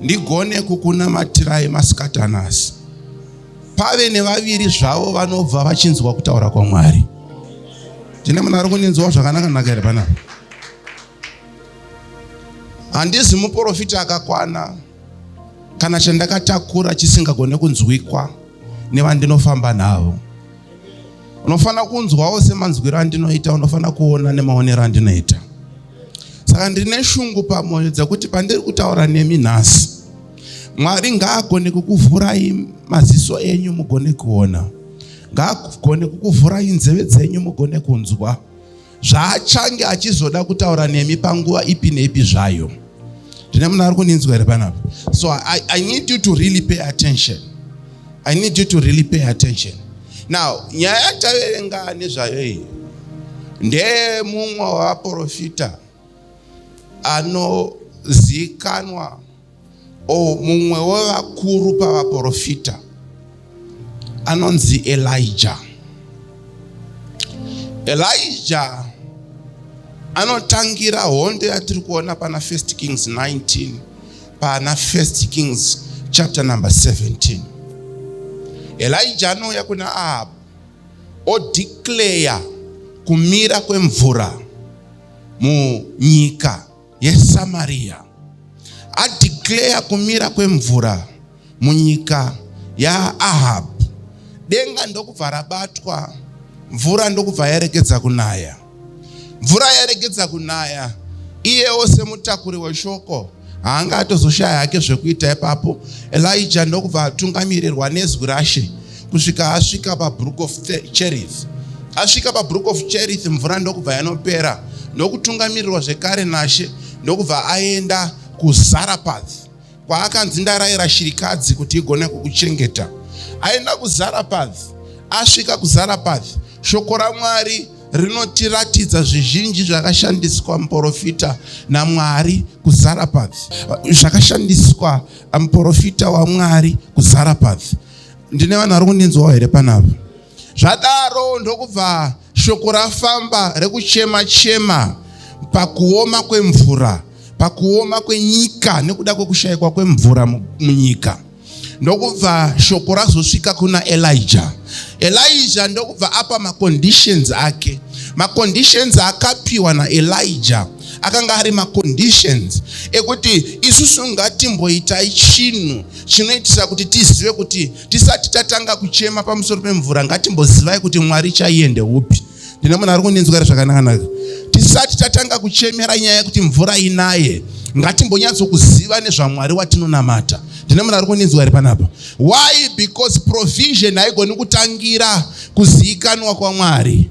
ndigone kukunamatirai masikati anasi pave nevaviri zvavo vanobva vachinzwa kutaura kwamwari tine munhu ari kundinzwa zvakanaka naka here panapa handizi muprofita akakwana kana chandakatakura chisingagone kunzwikwa nevandinofamba navo unofanira kunzwawo semanzwiro andinoita unofanira kuona nemaonero andinoita saka ndine shungu pamwoyo dzekuti pandiri kutaura nemi nhasi mwari ngaagone kukuvhurai maziso enyu mugone kuona ngaagone kukuvhurai nzeve dzenyu mugone kunzwa zvaachange achizoda kutaura nemi panguva ipi neipi zvayo ndine munhu ari kundinzwa here panapa so I, i need you to really pay attention i need you to really pay attention now nyaya yataverenga nezvayo iyi ndeye mumwe wavaprofita anozikanwa o mumwe wevakuru pavaprofita anonzi elija elija anotangira hondo yatiri kuona pana first kings 19 Pana First Kings chapter number 17. Elijah anouya kuna Ahab odeclare kumira kwemvura munyika yeSamaria. Adeclare kumira kwemvura munyika yaAhab. Denga ndokubva rabatwa, mvura ndokubva yaerekedza kunaya. Mvura yaregedza kunaya, iyewo semutakuri weshoko haanga atozoshaya hake zvekuita ipapo. Elija ndokubva atungamirirwa nezwi rashe kusvika asvika pabrook of Cherith. Asvika pabrook of Cherith, mvura ndokubva yanopera ndokutungamirirwa zvekare nashe ndokubva aenda kuZarapath. kwaakanzi ndaraira shirikadzi kuti igone kukuchengeta aenda kuzarapath asvika kuzarapath shoko ramwari rinotiratidza zvizhinji zvakashandiswa muporofita namwari kuzarapath zvakashandiswa muporofita wamwari kuzarapath ndine vanhu vari kundinzwawo here panapa Zvadaro ndokubva shoko rafamba rekuchema chema pakuoma kwemvura, pakuoma kwenyika nekuda kwekushayikwa kwemvura munyika. Ndokubva shoko razosvika kuna Elijah. Elijah ndokubva apa maconditions ake. Maconditions akapiwa naElijah akanga ari maconditions ekuti isusu ngatimboitai chinhu chinoitisa kuti tizive kuti Tisati tatanga kuchema pamusoro pemvura, ngatimbozivai kuti Mwari chaiye ndeupi. Ndine munhu ari kundinzwira zvakanakanaka. Tisati tatanga kuchemera nyaya yekuti mvura inaye, ngatimbonyatsokuziva nezvaMwari watinonamata. Ndine munhu ari kundinzwa here panapa? Why? Because provision haigoni kutangira kuziikanwa kwaMwari.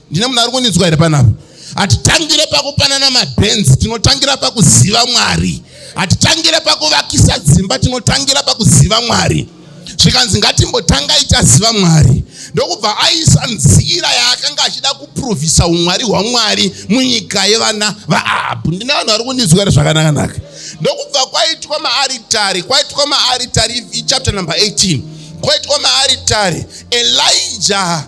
ndine munhu ari kundinzwa here panapa hatitangire pakupanana mabhenzi tinotangira pakuziva mwari hatitangire pakuvakisa dzimba tinotangira pakuziva mwari zvikanzi ngatimbotangai taziva mwari ndokubva aisa nzira yaakanga achida kuprovhisa umwari hwamwari munyika yevana vaahabhu ndine vanhu vari kundinzwa ri zvakanakanaka ndokubva kwaitwa maaritari kwaitwa maaritari ichapter number 18 kwaitwa maaritari elija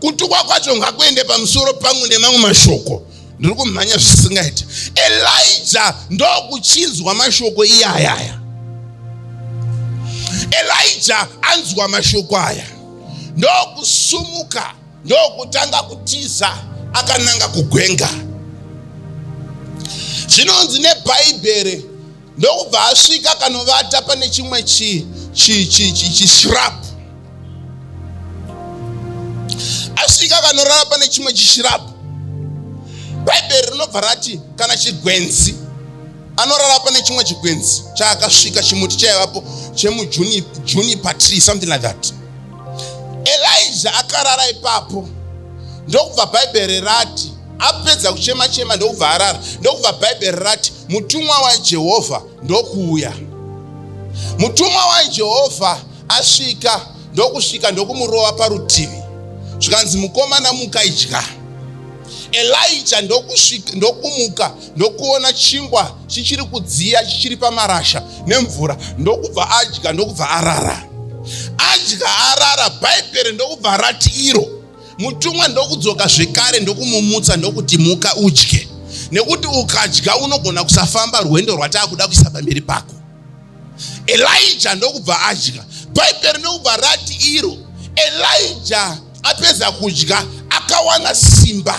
kutukwa kwacho ngakuende pamusoro pangu nemamwe mashoko ndiri kumhanya zvisingaiti elija ndokuchinzwa mashoko iye ayaya elija anzwa mashoko aya ndokusumuka ndokutanga kutiza akananga kugwenga zvinonzi nebhaibheri ndokubva asvika akanovata pane chimwe chishirapu asvika akanorara pane chimwe chishirapu bhaibheri rinobva rati kana chigwenzi anorara pane chimwe chigwenzi chaakasvika chimuti chaivapo chemujunipa tree something like that elija akarara ipapo ndokubva bhaibheri rati apedza kuchema chema ndokubva arara ndokubva bhaibheri rati Mutumwa waJehovha ndokuuya. Mutumwa waJehovha asvika ndokusvika ndokumurova parutivi zvikanzi mukomana muka idya. Elija ndokusvika ndokumuka ndokuona chingwa chichiri kudziya chichiri pamarasha nemvura ndokubva adya ndokubva arara. Adya arara bhaibheri ndokubva rati iro Mutumwa ndokudzoka zvekare ndokumumutsa ndokuti muka udye nekuti ukadya unogona kusafamba rwendo rwataakuda kuisa pamberi pako. Elija ndokubva adya. Bhaibheri ndokubva rati iro Elija apedza kudya akawana simba.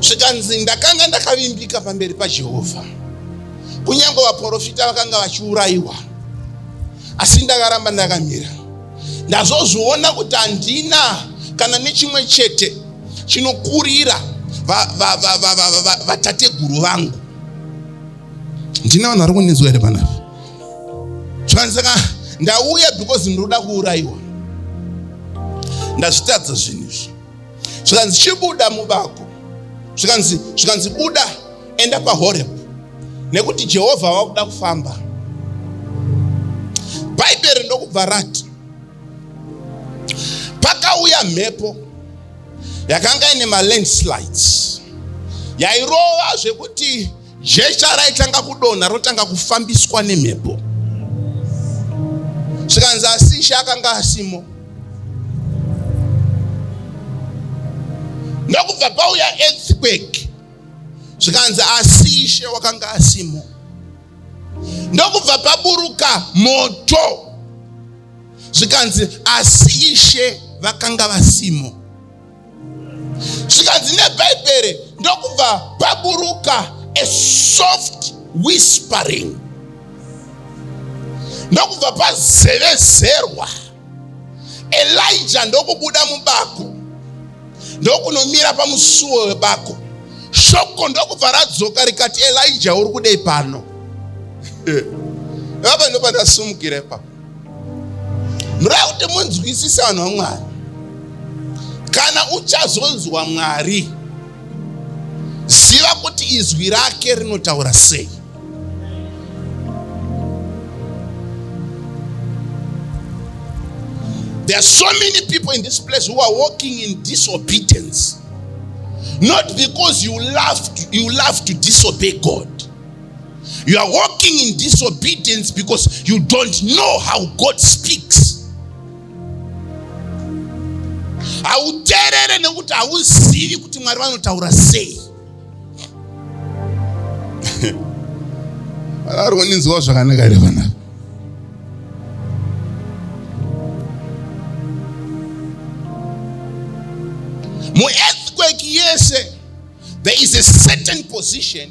zvikanzi ndakanga ndakavimbika pamberi pajehovha kunyange vaprofita vakanga vachiurayiwa asi ndakaramba ndakamira ndazozviona kuti handina kana nechimwe chete chinokurira vatateguru vangu ndina vanhu vari kundinzwa here panapa zvakanaka ndauya because ndinoda kuurayiwa ndazvitadza zvinhu izvi zvikanzi chibuda mubako zvikanzi zvikanzi buda enda pahoreb nekuti jehovha wakuda kufamba bhaibheri ndokubva rati pakauya mhepo yakanga ine malandslides yairova zvekuti Jecha raitanga kudonha rotanga kufambiswa nemhepo. Zvikanzi asi Ishe akanga asimo. Ndokubva pauya earthquake. Zvikanzi asi Ishe wakanga asimo. Ndokubva paburuka moto. Zvikanzi asi Ishe vakanga vasimo. zvikanzi nebhaibheri ndokubva paburuka a soft whispering ndokubva pazevezerwa elija ndokubuda mubako ndokunomira pamusuwo webako shoko ndokubva radzoka rikati elija uri kudei pano vapa ndopandasumukira ipapo murava kuti munzwisisa vanhu vamwari kana uchazonzwa mwari ziva kuti izwi rake rinotaura sei There are so many people in this place who are walking in disobedience. Not because you love to, you love to disobey God. You are walking in disobedience because you don't know how God speaks. hauteerere nekuti hauzivi kuti mwari vanotaura sei ari kuninzwa zvakanaka here vana muearthquake yese there is a certain position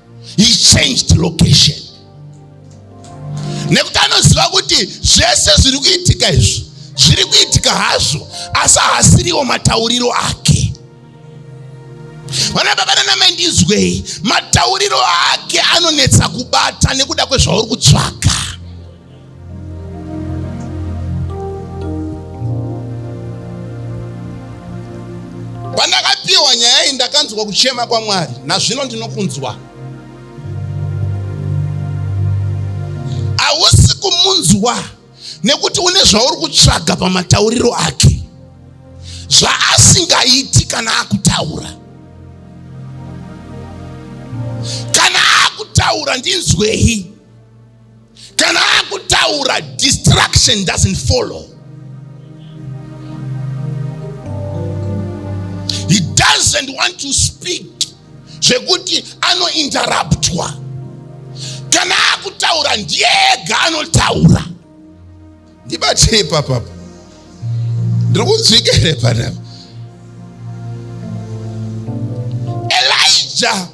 he changed location nekuti anoziva kuti zvese zviri kuitika izvi zviri kuitika hazvo asi haasiriwo matauriro ake vana baba nanamai ndinzwei matauriro ake anonetsa kubata nekuda kwezvauri kutsvaka pandakapiwa nyaya iyi ndakanzwa kuchema kwamwari nazvino ndinokunzwa hausi kumunzwa nekuti une zvauri kutsvaga pamatauriro ake zvaasingaiti kana akutaura kana akutaura ndinzwei kana akutaura distraction doesn't follow he doesn't want to speak zvekuti anointerruptwa kana akutaura ndiye ega anotaura Ndibatei ipapa apa. Ndiri kunzwika here panapa? Elijah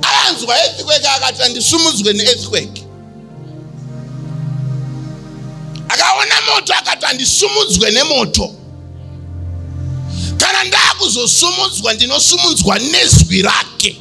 akanzwa earthquake akati andisumudzwe neearthquake. Akaona moto akati andisumudzwe nemoto. Kana ndakuzosumudzwa ndinosumudzwa nezwi rake.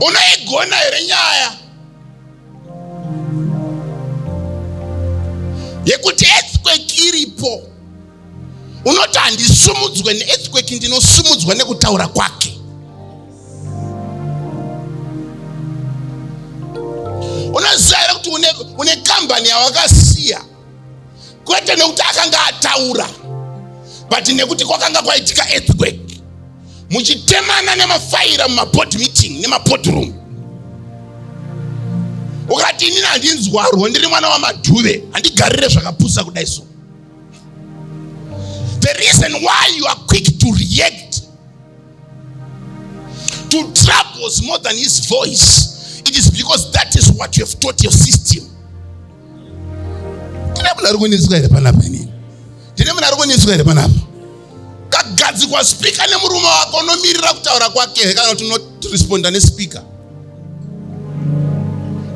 unoigona here nyaya yekuti earthquake iripo unoti handisumudzwe neearthquake ndinosumudzwa nekutaura kwake unoziva here kuti une kambani yawakasiya kwete nekuti akanga ataura but nekuti kwakanga kwaitika earthquake muchitemana nemafaira mumaboard meeting nemaboard room ukati inini handinzwarwo ndiri mwana wamadhuve handigarire zvakapusa kudai so the reason why you are quick to react to troubles more than his voice it is because that is what you have taught your system ndine munhu ari kunetswa here panapa inini ndine munhu ari kunetswa here panapa kagadzikwa spika nemurume wako unomirira kutaura kwake here kana kuti unoresponda nespika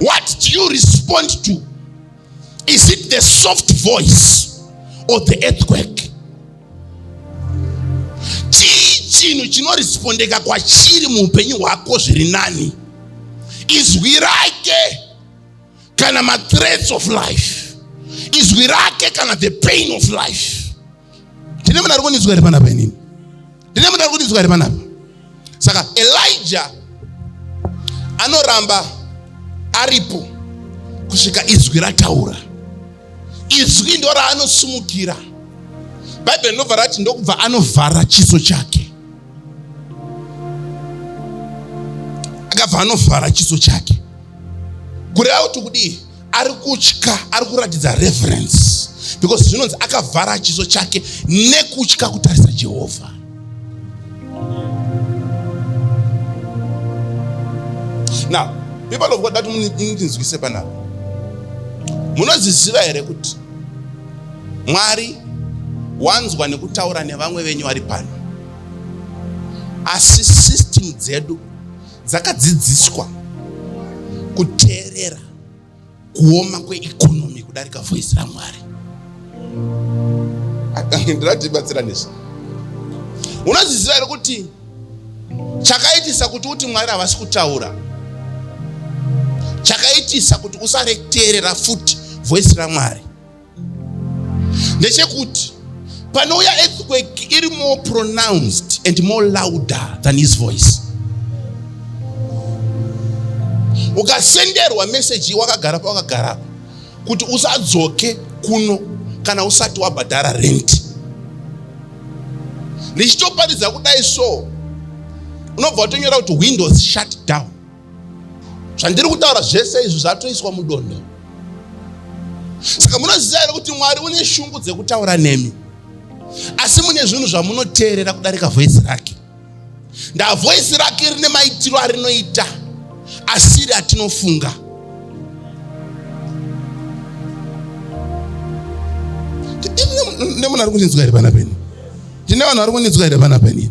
what do you respond to is it the soft voice or the earthquake chii chinhu chinorespondeka kwachiri muupenyu hwako zviri nani izwi rake kana mathreats of life izwi rake kana the pain of life ndine munhu ari kundinzwa ri panapa inini ndine munhu ari kundinzwa ri panapa saka elija anoramba aripo kusvika izwi rataura izwi ndo raanosumukira bhaibheri ndobva rati ndokubva anovhara chiso chake akabva anovhara chiso chake kureva kuti kudii ari kutya ari kuratidza reverence because zvinonzi akavhara chiso chake nekutya kutarisa jehovha now people of god dati muninzwise panapa munoziziva here kuti mwari wanzwa nekutaura nevamwe venyu vari pano asi system dzedu dzakadzidziswa kuteerera kuoma kweikonomi kudarika voice ramwari ndiratibatsira nezvi unozviziva here kuti chakaitisa kuti uti mwari havasi kutaura chakaitisa kuti usareteerera futi voice ramwari ndechekuti panouya earthquake iri more pronounced and more louder than his voice ukasenderwa meseji wakagara pawakagara pa kuti usadzoke kuno kana usati wabhadhara renti ndichitoparidza kudai so unobva watonyora kuti windows shut down zvandiri kutaura zvese izvi zvatoiswa mudondo saka munoziva here kuti mwari une shungu dzekutaura nemi asi mune zvinhu zvamunoteerera kudarika voisi rake ndavoisi rake rine maitiro arinoita asiri atinofunga nemunhu ari kundinzwa here pana peni ndine vanhu vari kundinzwa here pana peni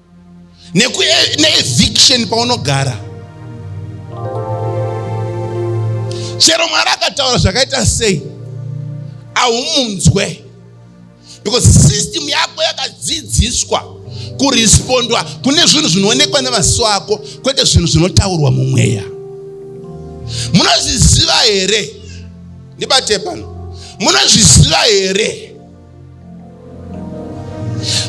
neeviction paunogara chero mwari akataura zvakaita sei ahumunzwe because system yako yakadzidziswa kurespondwa kune zvinhu zvinoonekwa nemaziso ako kwete zvinhu zvinotaurwa mumweya munozviziva here ndibate pano munozviziva here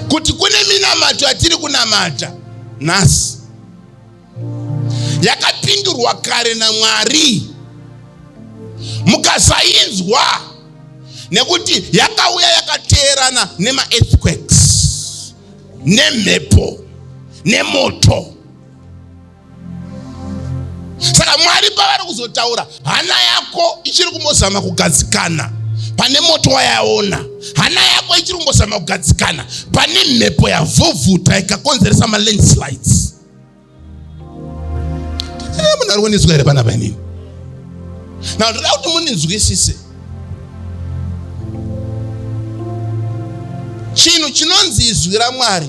kuti kune minamato yatiri kunamata nhasi yakapindurwa kare naMwari mukasainzwa nekuti yakauya yakateerana nemaearthquakes nemhepo nemoto saka mwari pavari kuzotaura hana yako ichiri kumbozama kugadzikana pane moto wayaona hana yako ichiri kumbozama kugadzikana pane mhepo yavhuvhuta ikakonzeresa malandslides eh, munhu ari kundinzwa here pana painini na ndoda kuti mundinzwisise chinhu chinonzi izwi ramwari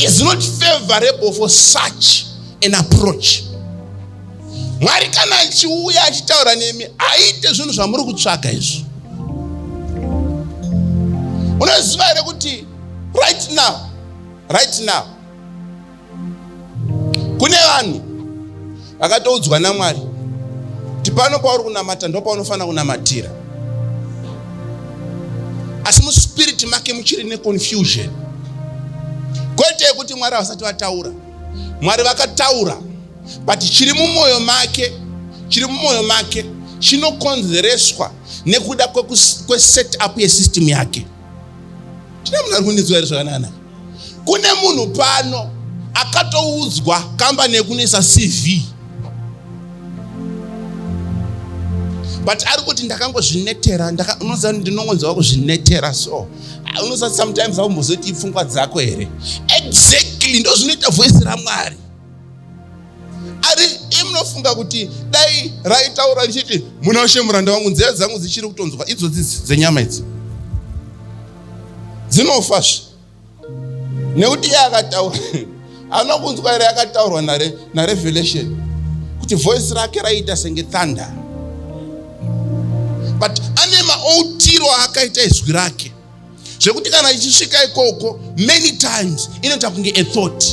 is not favorable for such an approach mwari kana achiuya achitaura nemi aite zvinhu zvamuri kutsvaga izvi unoziva here kuti right now right now kune vanhu vakatoudzwa namwari kuti pano pauri kunamata ndo paunofanira kunamatira asi muspiriti make muchiri neconfusion kwete yekuti mwari havasati vataura mwari vakataura but chiri mumwoyo make chiri mumwoyo make chinokonzereswa nekuda kweset up yesystem yake Tine munhu ari kundinzwa here zvakanaka? Kune munhu pano akatoudzwa kambani yekunoisa CV but ari kuti ndakangozvinetera unoziva ndinongonzwa kuzvinetera so ah, unoziva sometimes aumbozoiti pfungwa dzako here exactly ndozvinoita voice ramwari ari imunofunga kuti dai raitaura richiti muna ushe muranda wangu nzeve dzangu dzichiri kutonzwa idzodzi dzenyama idzi dzinofazve nekuti iye akataura haana kunzwa ere yakataurwa narevelation kuti voice rake raiita senge thunder but ane maoutiro aakaita izwi rake zvekuti kana ichisvika ikoko many times inoita kunge a thought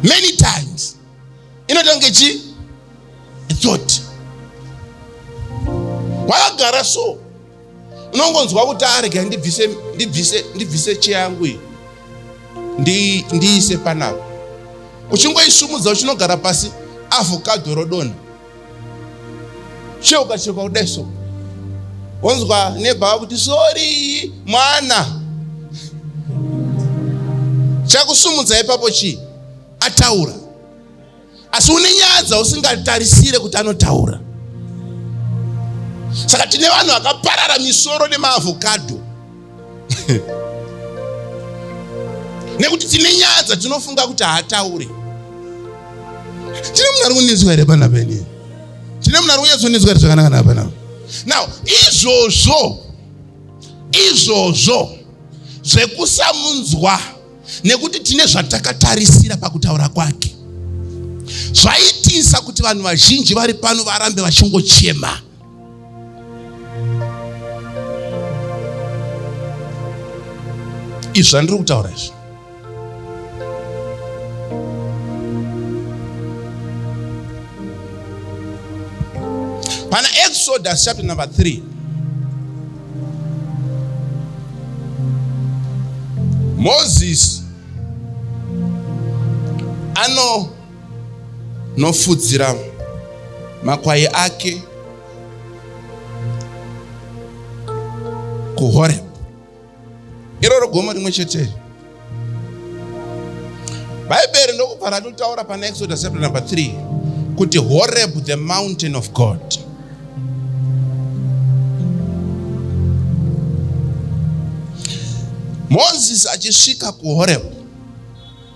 many times inoita kunge chi a thought wakagara so unongonzwa kuti arega ndibvise ndibvise ndibvise cheyangu iyi ndiise panapa uchingoisumudza uchinogara pasi avhokadho rodonha cheuka cheuka kudai so wonzwa nebhava kuti sori mwana chakusumudza ipapo chii ataura asi une nyaya dzausingatarisire kuti anotaura saka tine vanhu vakaparara misoro nemaavhokadho nekuti tine nyaya dzatinofunga kuti haataure tine munhu ari kunetswa here pana peni tine munhu ari kunyatsonetswa here zvakanaka naa panapa now izvozvo izvozvo zvekusamunzwa nekuti tine zvatakatarisira pakutaura kwake zvaitisa kuti vanhu vazhinji vari pano varambe vachingochema izvi zvandiri kutaura izvi pana exodus chapter number 3 moses ano nofudzira makwai ake kuhorebhu iroro gomo rimwe cheteri bhaibheri ndokubva ratotaura pana exodus chapter number 3 kuti horebhu the mountain of god moses achisvika kuhorebhu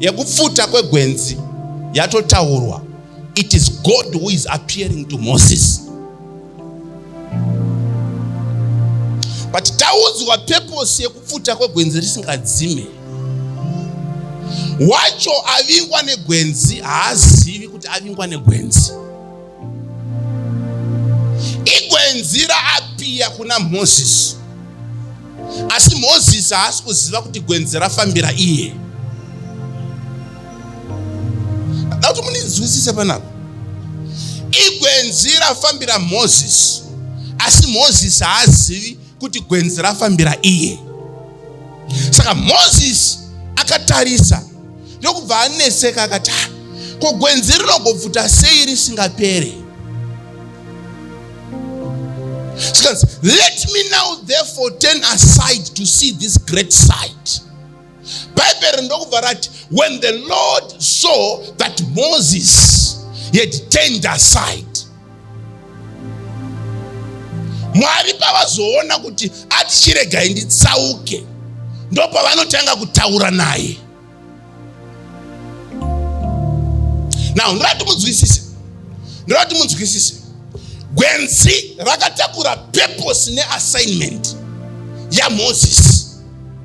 yekupfuta kwegwenzi yatotaurwa it is god who is appearing to moses but taudzwa purpose yekupfuta kwegwenzi risingadzime wacho avingwa negwenzi haazivi kuti avingwa negwenzi igwenzi raapiya kuna moses Asi Mozisi haasi kuziva kuti gwenzi rafambira iye. Ndada kuti mundinzwisise panapa. Igwenzi rafambira Mozisi, asi Mozisi haazivi kuti gwenzi rafambira iye. Saka Mozisi akatarisa ndokubva anetseka akati ah, ko gwenzi rinogobvuta sei risingapere zvikanzi let me now therefore turn aside to see this great sight bhaibheri ndokubva rati when the lord saw that moses he had turned aside mwari pavazoona kuti ati chiregai nditsauke ndopavanotanga kutaura naye now ndoda kuti munzwisise ndoda kuti munzwisise gwenzi rakatakura purpose neassignment yamozisi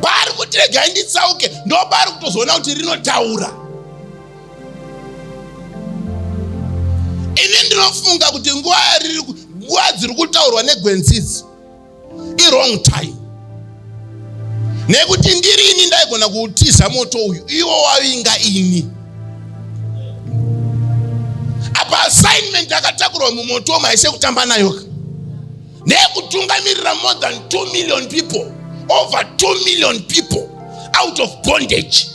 paari kuti regai nditsauke ndopaari kutozoona kuti rinotaura ini ndinofunga kuti nguva yariri nguva dziri kutaurwa negwenzidzo iwrong time nekuti ndiri ini ndaigona kuutiza moto uyu iwo wavinga ini apa assignment akatakurwa mumoto maise kutamba nayoka neyekutungamirira more than 2 million people over 2 million people out of bondage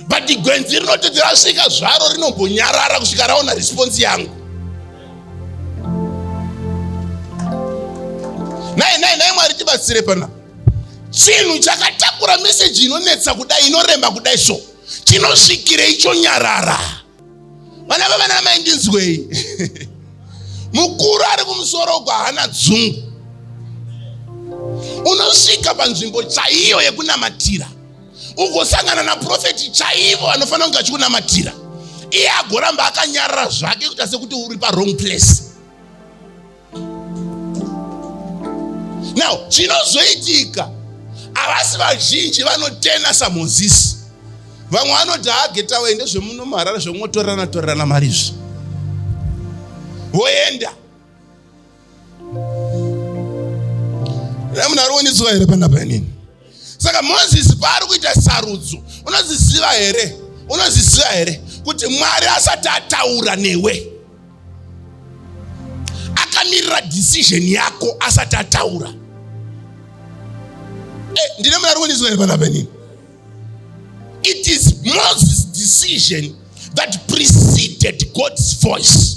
but gwenzi rinototi rasvika zvaro rinombonyarara kusvika raona response yangu nhai nhai nhai mwari tibatsire pana chinhu chakatakura meseji inonetsa kudai inorema kudai so chinosvikirei chonyarara vana vavana mai ndinzwei mukuru ari kumusoro uko haana dzungu unosvika panzvimbo chaiyo yekunamatira ugosangana naprofeti chaivo vanofanira kunge achikunamatira iye agoramba akanyarara zvake kuita sekuti uri parong place now chinozoitika havasi vazhinji vanotena samozisi vamwe vanoti haageta waende zvemuno maharara zvekungotorerana torerana mari izvi voenda Ramuna roonidzwa here pana panini? Saka Moses paari kuita sarudzo, unoziziva here? Unoziziva here kuti Mwari asati ataura newe? Akamirira decision yako asati ataura. Eh, ndine muna roonidzwa here pana panini? It is Moses decision that preceded God's voice.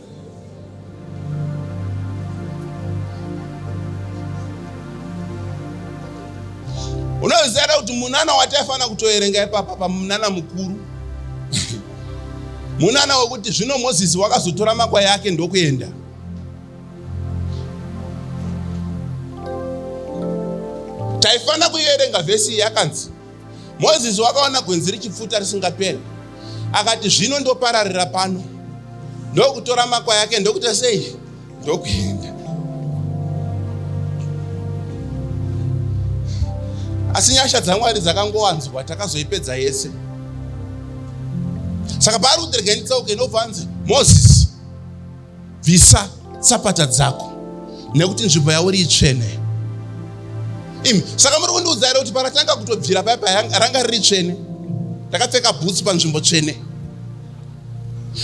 unoziva da kuti munana wataifanira kutoerenga ipapa pamunana mukuru munana wekuti zvino mozisi wakazotora makwai ake ndokuenda taifanira kuierenga vhesi yakanzi Mozisi wakaona gwenzi richipfuta risingaperi, akati, Zvino ndopararira pano, ndokutora makwai ake, ndokuita sei? Ndokuenda. Asi nyasha dzaMwari dzakangowanzwa, takazoipedza yese. Saka paari kuti regai nditsauke, ndobva anzi Mozisi bvisa tsapata dzako nekuti nzvimbo yauri itsvene imi saka muri kundiudza here kuti paratanga kutobvira paya paya ranga riri tsvene ndakapfeka bhutsu panzvimbo tsvene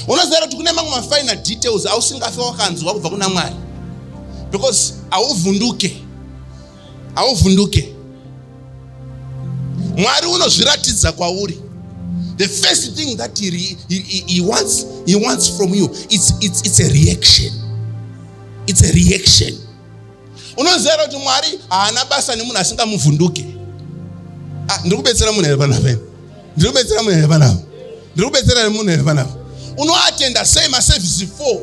unoziva kuti kune mamwe mafinal details ausingafe wakanzwa kubva kuna mwari because hauvhunduke hauvhunduke mwari unozviratidza kwauri the first thing that he, he, he, he, wants, he wants from you it's, it's, it's a reaction it's a reaction unoziva kuti mwari haana basa nemunhu asingamuvhunduke ah, ndiri kubetsera munhu here panapeni ndiri kubetsera munhu here panapa ndiri kubetsera here munhu here panapa unoatenda sei masevhisi 4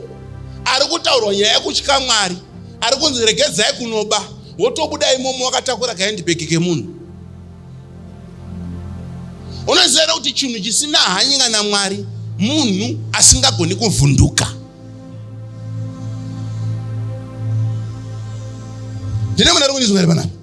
ari kutaurwa nyaya yekutya mwari ari kunzi regedzai kunoba wotobuda imomo wakatakura kaendibheki kemunhu unoziva here kuti chinhu chisina hanyika namwari munhu asingagoni kuvhunduka ndine munhu ari kundizwa here panapa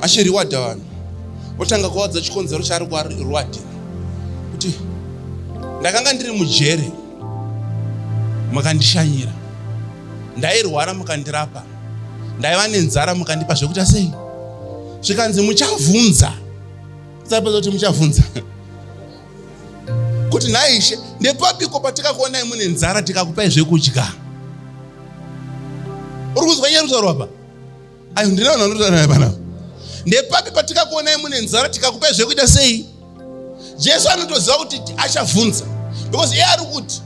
achiriwadha vanhu otanga kuvaudza chikonzero chaari kuvarwadhira kuti ndakanga ndiri mujere makandishanyira ndairwara mukandirapa ndaiva nenzara mukandipa zvekuita sei zvikanzi muchavhunza sapedza kuti muchavhunza kuti nhaishe ndepapiko patikakuonai mune nzara tikakupai zvekudya uri kuzwa nyari kutaurwa pa ayo ndina vanhu vanotaura naye pana ndepapi patikakuonai mune nzara tikakupai zvekuita sei jesu anotoziva kuti achavhunza because iye ari kuti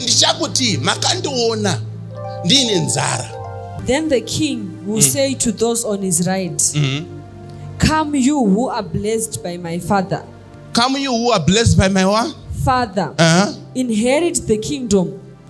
ndichakuti makandiona ndiine nzara then the king will mm. say to those on his right mm -hmm. come you who are blessed by my father come you who are blessed by my what? father uh -huh. inherit the kingdom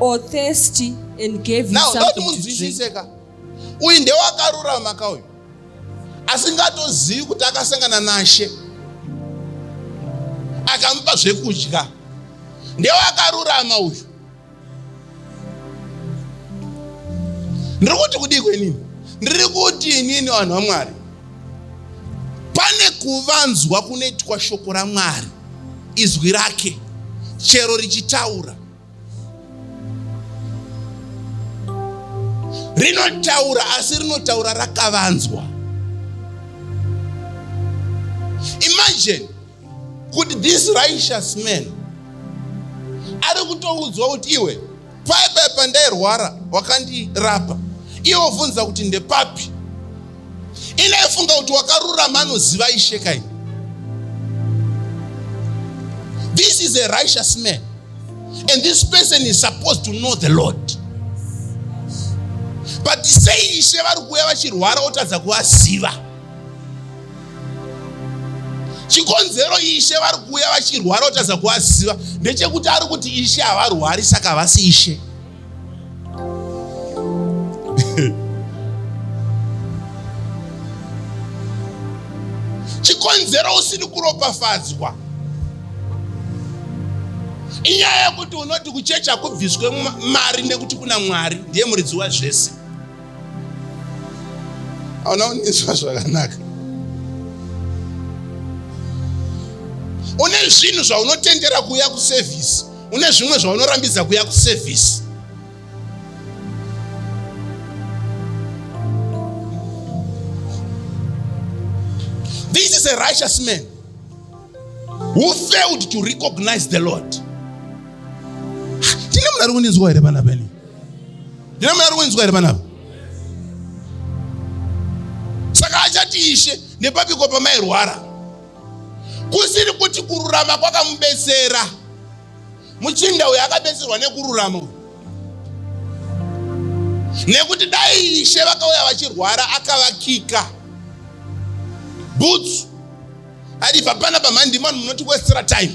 or thirsty and gave you something to drink. uyu ndewakarurama ka uyu asingatozivi kuti akasangana nashe akamupa zvekudya ndewakarurama uyu ndiri kuti kudiko inini ndiri kuti inini vanhu vamwari pane kuvanzwa kunoitwa shoko ramwari izwi rake chero richitaura rinotaura asi rinotaura rakavanzwa imagine kuti this righteous man ari kutoudzwa kuti iwe paipai pandairwara wakandirapa iwe obvunza kuti ndepapi inaifunga kuti wakarurama anoziva ishe kai this is a righteous man and this person is supposed to know the lord but sei ishe vari kuuya vachirwara otadza kuvaziva chikonzero ishe vari kuuya vachirwara kutadza kuvaziva ndechekuti ari kuti ishe havarwari saka havasi ishe chikonzero usini kuropafadzwa inyaya yekuti unoti kuchechi hakubviswe mari nekuti kuna mwari ndiye muridzi wazvese hauna kundinzwa zvakanaka une zvinhu zvaunotendera kuuya kusevhisi une zvimwe zvaunorambidza kuuya kusevhisi this is a righteous man who failed to recognize the lord tine munhu ari kundinzwa here vana venyu ndino maari kunzwa here panapa saka achati ishe nepapiko pamairwara kusiri kuti kururama kwakamubetsera muchinda uyo akabetserwa nekururama uyo nekuti dai ishe vakauya vachirwara akavakika bhutsu adi papana pamhandimani munoti westra time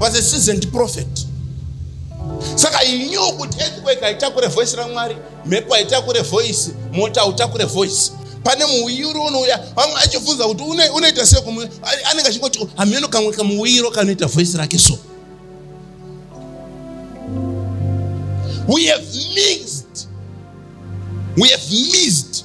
was a seasoned prophet saka he knew kuti earthquake haitakure voice ramwari mhepo haitakure voice mota hautakure voice pane muuyiro unouya vamwe achibvunza kuti unoita sei kumwe anenge achingoti oh, hameno kamwe kamuuyiro kanoita voice rake so we have mixed we have missed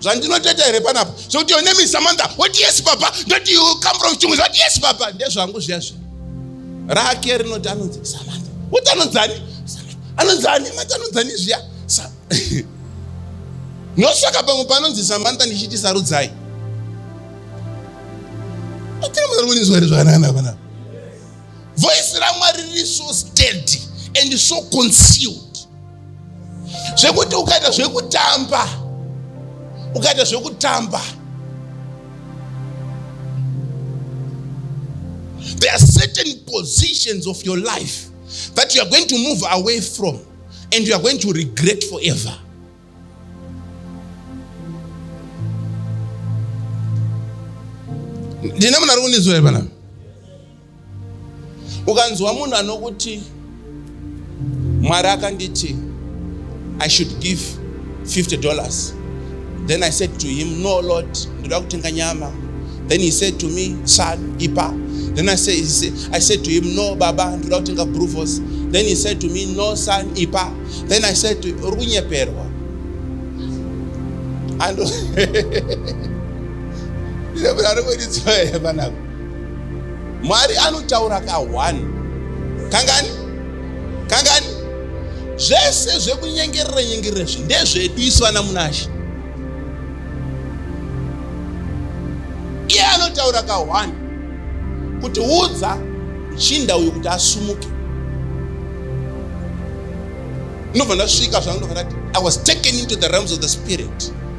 zvandinotoita here panapa zvekuti your name is samantha what yes baba ndoti you come from chungu what yes baba ndezvangu zviya zviya rake rinoti anonzi samantha kuti anonzani anonzani mati anonzani zviya ndosvaka pamwe panonzi samantha ndichiti sarudzai atirimunarukunizwari zvakanana panapa voice ramwari riri so steady and so concealed zvekuti ukaita zvekutamba ukaita zvekutamba there are certain positions of your life that you are going to move away from and you are going to regret forever ndine munhu ari kunizwa here panapa ukanzwa munhu anokuti mwari akanditi i should give 50 dollars then i said to him no lord ndoda kutenga nyama then he said to me son ipa then i said, I said to him no baba ndoda kutenga bruvos then he said to me no son ipa then i said to uri kunyeperwa and Mwari anotaura ka one. Kangani? Kangani? Zvese zvekunyengerera nyengerera zvi ndezvedu isu ana Munashe. Iye anotaura ka one kuti udza muchinda uyu kuti asumuke. Ndobva ndasvika zvangu ndakati I was taken into the realms of the spirit.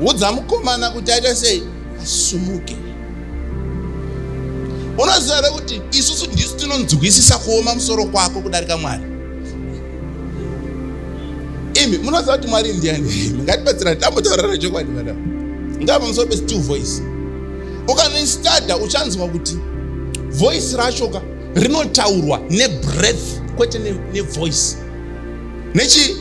udza mukomana kuti aite sei asumuke unoziva here kuti isusu ndisu tinonzwisisa kuoma musoro kwako kudarika mwari imi munoziva kuti mwari ndiani mungatibatsira tambotaurana chokwadi madam ngaa pamusoro pesi two voice ukanoistada uchanzwa kuti voice racho ka rinotaurwa nebreath kwete nevoice ne nechii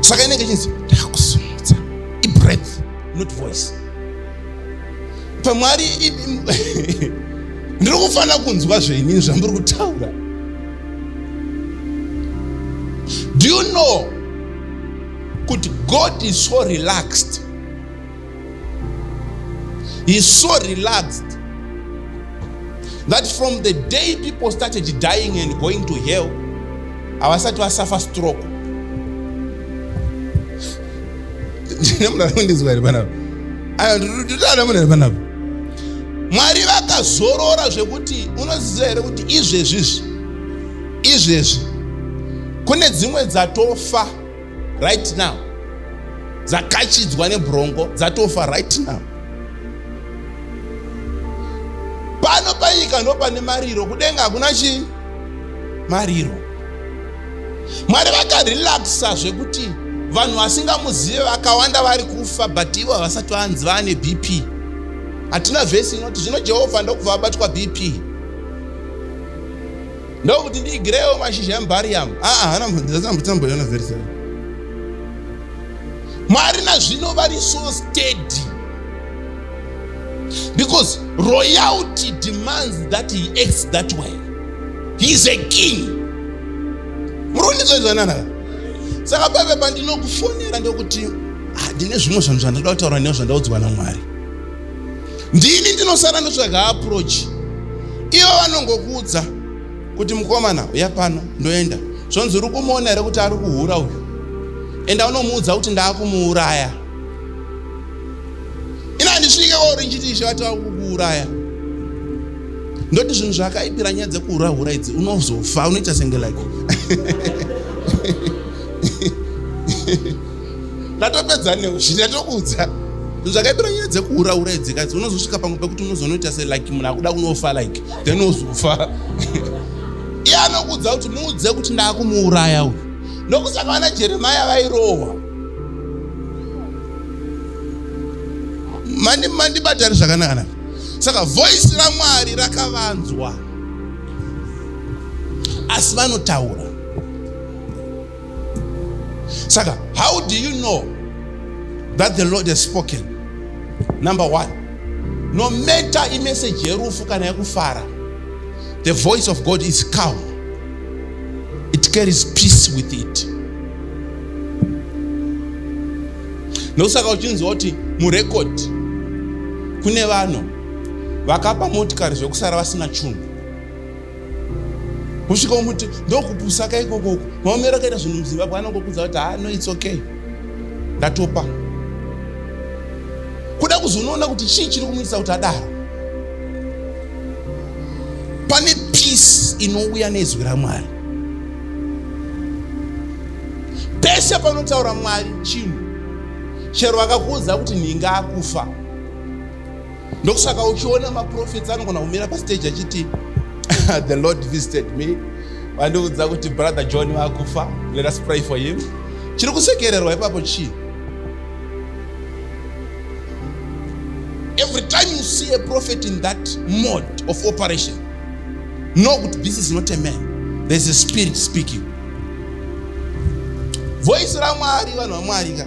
saka inenge chinzi ndakusimudza ibreath not voice pamwari ndiri kufanira kunzwa zvenini zvamuri kutaura do you know kuti god is so relaxed He's so relaxed that from the day people started dying and going to hell, havasati vasafa stroke. mwari vakazorora zvekuti unoziva here kuti izvezvi izvi izvezvi kune dzimwe dzatofa right now dzakachidzwa nebrongo dzatofa right now pano panyika ndopane mariro kudenga hakuna chii mariro mwari vakarelaxa zvekuti vanhu vasingamuzive vakawanda vari kufa but ivo havasati vanzi vaane bp hatina vhesi inoti zvino jehovha ndokubva vabatwa bp ndokuti ndiigirewo mashizha embariyamu aa hana mhambidzatsambotamboiona very seven mwari nazvino vari so steady because royalty demands that he acts that way he is a king murundizoizananaka saka pave pandinokufonera ndokuti handine ah, zvimwe zvanhu zvandakuda kutaura neo zvandaudzwa namwari ndini ndinosara ndotsvaga approach ivo vanongokuudza kuti mukomana uya pano ndoenda zvonzi uri kumuona here kuti ari kuhura uyu enda unomuudza kuti ndaakumuuraya ina handisvike kwauri ndichiti ishe vati vakukuuraya ndoti zvinhu zvakaipira nyaya dzekuhura hura idzi unozofa unoita senge like ndatopedza newe zvinhu yatokuudza zvakaipira nyaya dzekuhura hura idzi kazi unozosvika pamwe pekuti unozonoita se like munhu akuda kunofa like then ozofa iye anokuudza kuti muudze kuti ndakumuuraya uyu ndokusaka vana jeremaya vairohwa mandibatari zvakanaka naka saka voisi ramwari rakavanzwa asi vanotaura saka how do you know that the lord has spoken number one no matter imeseji yerufu kana yekufara the voice of god is calm it carries peace with it nokusaka uchinzwa kuti murekodi kune vanhu vakapa motikari zvekusara vasina chunhu kusvika umuti ndokupusa ka ikoko uku maomero akaita zvinhu muzimbabwe anongokudza kuti ha no its okay ndatopa kuda kuzonoona kuti chii chiri kumuitisa kuti adaro pane peace inouya nezwi ramwari pese panotaura mwari chinhu chero akakuudza kuti nhinga akufa ndokusaka uchiona maprofits anogona kumira pastage achiti the lord visited me vandiudza kuti brother john vakufa let us pray for him chiri kusekererwa ipapo chii every time you see a prophet in that mode of operation know kuti this is not a man there's a spirit speaking voice ramwari vanhu vamwari ka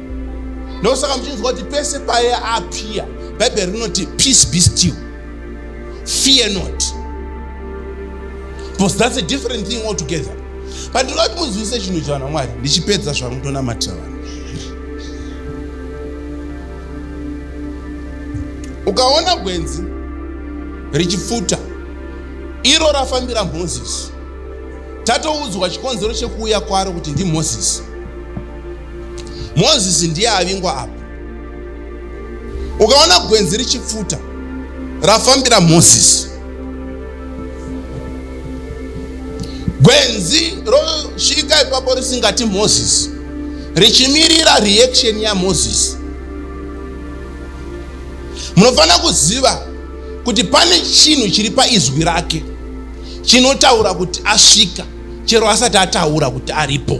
ndosaka muchinzwa kuti pese paye apia bhaibheri rinoti peace be still fear not because that's a different thing altogether but ndinoda kuti munzwise chinhu chivana mwari ndichipedza zvangu ndonamatira vanhu ukaona gwenzi richipfuta iro rafambira mhozisi tatoudzwa chikonzero chekuuya kwaro kuti ndimhozisi mozisi ndiye avingwa apa ukaona gwenzi richipfuta rafambira mozisi gwenzi rosvika ipapo risingati mozisi richimirira reaction yamozisi munofanira kuziva kuti pane chinhu chiri paizwi rake chinotaura kuti asvika chero asati ataura kuti aripo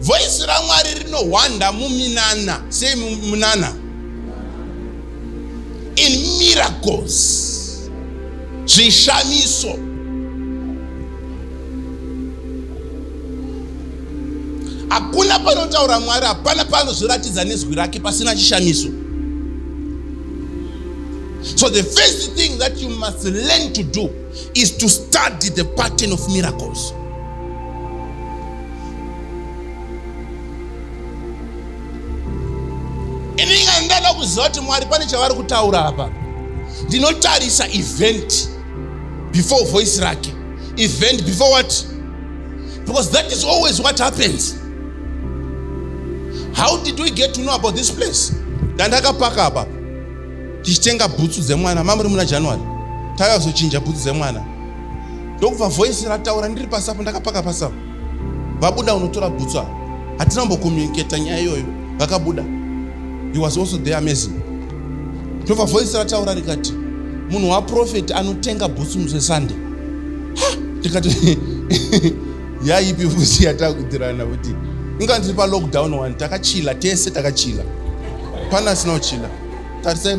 Voice raMwari rinohwanda muminana. Sei munana? In miracles. Zvishamiso. Hakuna panotaura Mwari, hapana panozviratidza nezwi rake pasina chishamiso. So the first thing that you must learn to do is to study the pattern of miracles. ini inga ndada kuziva kuti mwari pane chavari kutaura apa ndinotarisa event before voice rake event before what because that is always what happens how did we get to know about this place ndandakapaka apa tichitenga bhutsu dzemwana mamuri muna january taiva kuzochinja bhutsu dzemwana ndokubva voice rataura ndiri pasi apo ndakapaka pasi apo vabuda unotora bhutsu apo hatina kumbokomuniketa nyaya iyoyo vakabuda he was also there amazing ndobva voice rataura rikati munhu waprofeti anotenga bhutsu musesunday ndikati yaipi fusi yatakutirana kuti inga ndiri palockdown one takachila tese takachila pana asina kuchila tarisai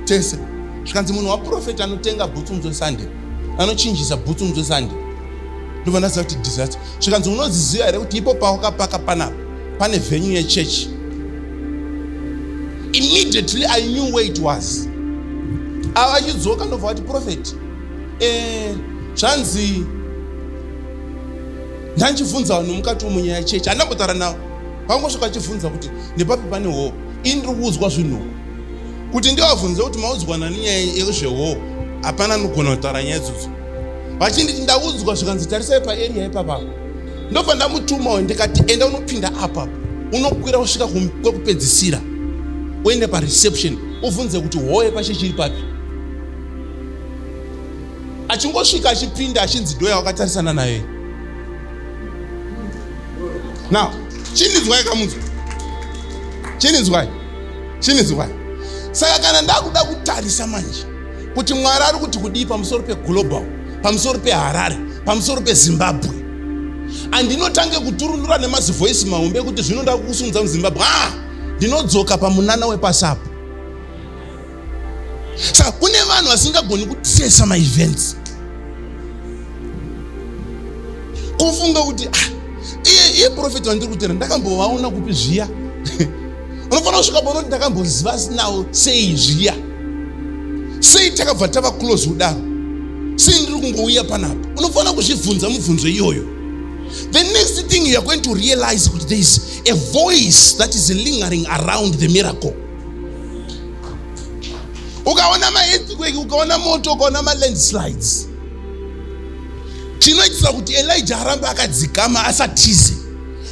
tese zvikanzi munhu waprofeti anotenga bhutsu musesunday anochinjisa bhutsu mutswe sande ndobva ndaziva kuti disaster zvikanzi unodziziva here kuti ipo pawakapaka panapa pane venue yechechi immediately i knew where it was ava achidzoka ndobva vati profeti eh, zvanzi ndanchibvunza vanhu mukati womunyaya yechechi handambotaura navo pangosvika achibvunza kuti nepapi pane hoo ini ndiri kuudzwa zvinhuku kuti ndivabvunze kuti maudzwa nani nyaya yezvehoo hapana anogona kutaura nyaya idzodzo vachinditi ndaudzwa zvikanzi tarisai paeria ipapa ndobva ndamutuma uyo ndikati enda unopinda apa unokwira kusvika kwekupedzisira uende pareception uvhunze kuti hoye pashe chiri papi achingosvika achipinda achinzi doya wakatarisana naye now chindinzwai kamunzwa chindinzwai chinizivai saka kana ndakuda kutarisa manje kuti mwari ari kuti kudii pamusoro peglobal pamusoro peharare pamusoro pezimbabwe andinotange kuturunura nemazivhoisi mahombe ekuti zvino nda kukusunza muzimbabwe a ndinodzoka pamunana wepasi apo saka kune vanhu vasingagoni kutesa maevents kufunga kuti ah, iye iye profeti wandiri kutera ndakambovaona kupi zviya unofanira kusvika paunoti ndakambonziva sinawo sei zviya sei takabva tava close kudaro sei ndiri kungouya panapa unofanira kuzvibvunza mubvunzo iyoyo the next thing youare going to realize kuti there is a voice that is lingering around the miracle ukaona maearthquake ukaona moto ukaona malandslides chinoitisa kuti elija arambe akadzikama asatize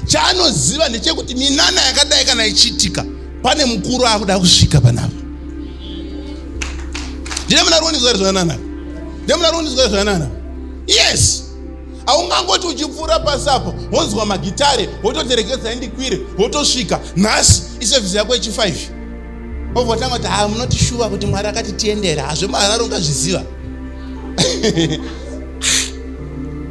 Chaanoziva ndechekuti minana yakadai kana ichiitika pane mukuru akuda kusvika panapa. Ndine muna ruonizwa zvanana. Ndine muna ruonizwa zvanana. Yes. Aungangoti uchipfuura pasi apo wonzwa magitare wototerekedza indikwire wotosvika nhasi isevhisi yako yechi 5 ovotanga kuti haa munotishuva kuti mwari akati tiendera hazvemahararo ungazviziva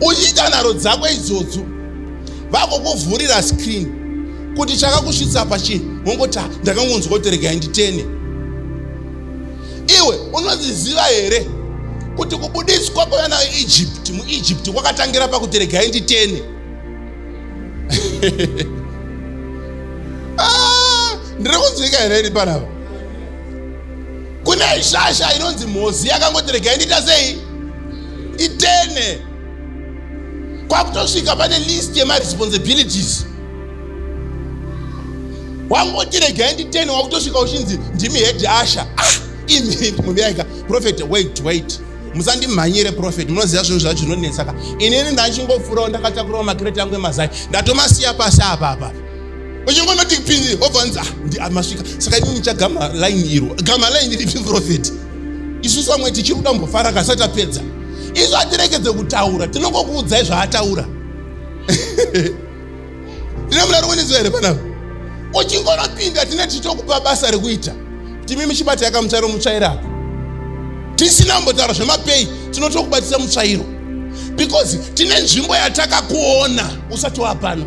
uchiita nharo dzako idzodzo vakokuvhurira screen kuti chakakusvitsa pachii wongoti ah, ndakangonzwa kuti regai nditene iwe unoziziva here kuti kubudiswa kwevana veegypt muegypt kwakatangira pakuti regai nditene ah, ndiri kunzwika here ini panapa kune shasha inonzi mhozi yakangoti regai ndiita sei itene kwakutosvika pane list yemaresponsibilities wangoti regai nditene wakutosvika uchinzi ndimi head asha ah, imi muyaika prophet wait wait musandimhanyire profeti munoziva zvinhu zvacho zvinonetsaka inini ndachingofurawo ndakatakurawo makireti angu emazai ndatomasiya pasi apapa uchingonoti pinzi obva anzi ah, ndi amasvika saka ini ndichaga malaini iro ga malaini ripi profeti isu samwe tichiri kuda mbofara kasi atapedza isu hatirekedze kutaura tinongokuudzai zvaataura ndine muna rikuniziva here panapa uchingonopinda tine tichitokupa basa rekuita timi michibata yakamutsvairo mutsvairo apo tisina kumbotaura zvemapei tinotokubatisa mutsvairo because tine nzvimbo yatakakuona usati wapano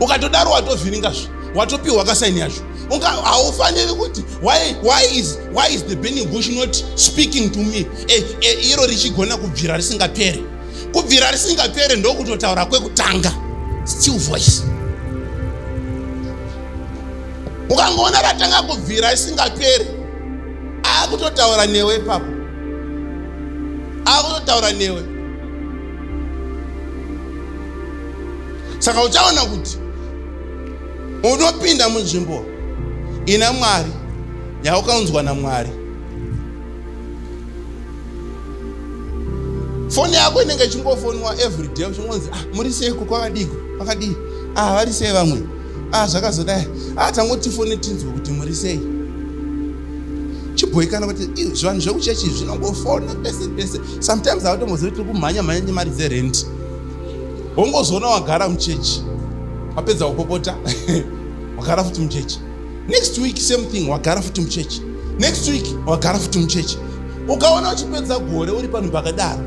ukatodaro watovhiringa zvo watopiwa kasaini yacho haufaniri kuti why, why, is, why is the burning bush not speaking to me eh, eh, iro richigona kubvira risingapere kubvira risingapere ndokutotaura kwekutanga still voice ukangoona ratanga kubvira risingapere akutotaura newe ipapo akutotaura newe saka uchaona kuti unopinda munzvimbo ina mwari yaukaunzwa namwari foni yako inenge ichingofonwa every day uchingonzi ah, muri seiko kwakadiko kwakadii ah, vari sei vamwe ah, zvakazodai ah, tangoti foni tinzwe kuti muri sei chibhoikana kuti zvivanhu zvekuchechi zvinongofona pese pese sometimes hautombozivi tiri kumhanya mhanya nemari dzerent wongozoona wagara muchechi wapedza kupopota wagara futi muchechi next week same thing wagara futi muchechi next week wagara futi muchechi ukaona uchipedza gore uri panhu pakadaro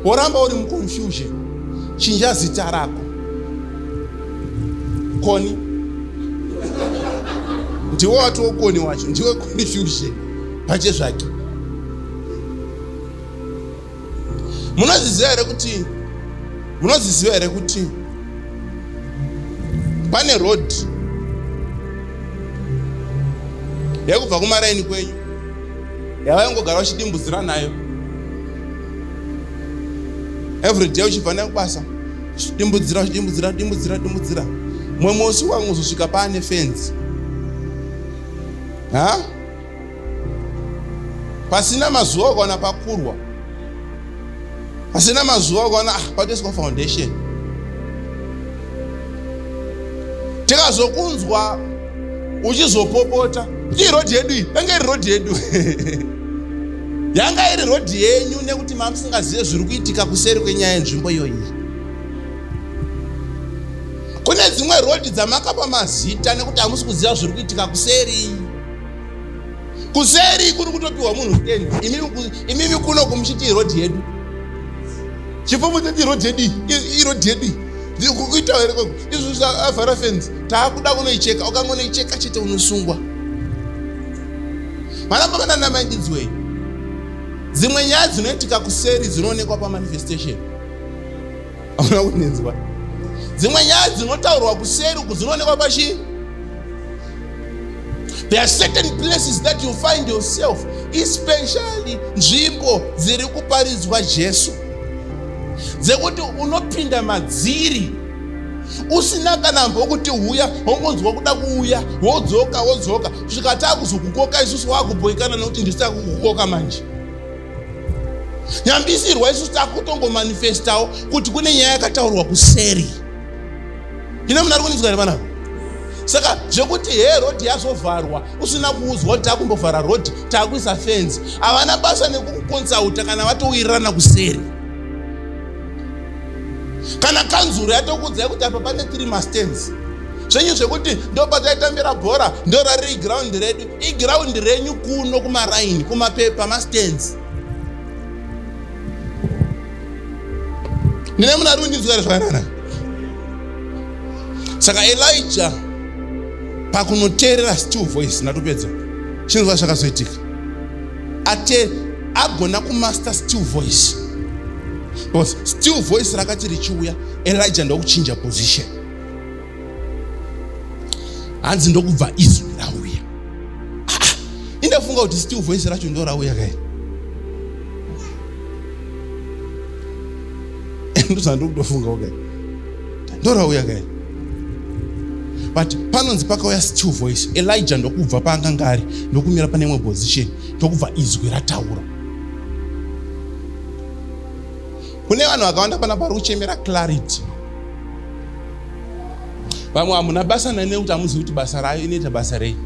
woramba uri muconfusion chinja zita rako koni ndiwe watiwo koni wacho ndiwe confusion pachezvake munozviziva here kuti munozviziva here kuti pane road yekubva kumaraini kwenyu yavaingogara uchidimbuzira nayo everyday uchibva nayo kubasa dimbudzira dimbudzira dimbudzira dimbudzira mumwe musi wangu uzosvika paane fenzi ha huh? pasina mazuva ukaona pakurwa pasina mazuva ukaona ah, patoiswa foundation tikazokunzwa uchizopopota ii rodhi yedu iyi yanga iri rodhi yedu yanga iri rodhi yenyu nekuti mamusingazive zviri kuitika kuseri kwenyaya yenzvimbo iyoyi kune dzimwe rodhi dzamakapa mazita nekuti hamusi kuziva zviri kuitika kuseri kuseri kuri kutopiwa munhu ten imimi kuno kumuchiti irodhi yedu chipfumo chati irodhi yedu irodhi yedu kuitawo here koko izvi zvaavhara fenzi taakuda kunoicheka ukangonoicheka chete unosungwa maramba kana namangidzwei dzimwe nyaya dzinoitika kuseri dzinoonekwa pamanifestation auna kunenzwa dzimwe nyaya dzinotaurwa kuseri uku dzinoonekwa pachii There are certain places that you find yourself, especially nzvimbo dziri kuparidzwa Jesu, dzekuti unopinda madziri usina kana mbokuti huya hongonzwa kuda kuuya wodzoka wodzoka kusvika takuzokukoka isusu wakuboikana nekuti ndisu takukukoka manje nyambisirwa isusu takutongomanifestawo kuti kune nyaya yakataurwa kuseri ine munhu ari kunzwa here vanavo saka zvekuti hee rodhi yazovharwa usina kuudzwa kuti takumbovhara rodhi takuisa fenzi havana basa nekukukonsulta kana vatowirirana kuseri kana kanzuro yatokuudzai kuti apa pane three mastens zvenyu zvekuti ndopataitambira bhora ndorariri giraundi redu igiraundi renyu kuno kumaraini kumapepa mastens ndine munhu ari kundinzwira zvakanana saka elija pakunoteerera still voice ndatopedza chinzwa zvakazoitika ate agona kumaster still voice because still voice rakati richiuya elija ndokuchinja position hanzi ndokubva izwi rauya ah, ah, indafunga kuti still voice racho ndo rauya kai ndozvandikutofungawo kai ndo rauya kai but panonzi pakauya still voice elija ndokubva paanganga ari ndokumira pane imwe position ndokubva izwi rataura kune vanhu vakawanda pana pari kuchemera clarity vamwe hamuna basa nani nekuti hamuzivi kuti basa rayo inoita basa rei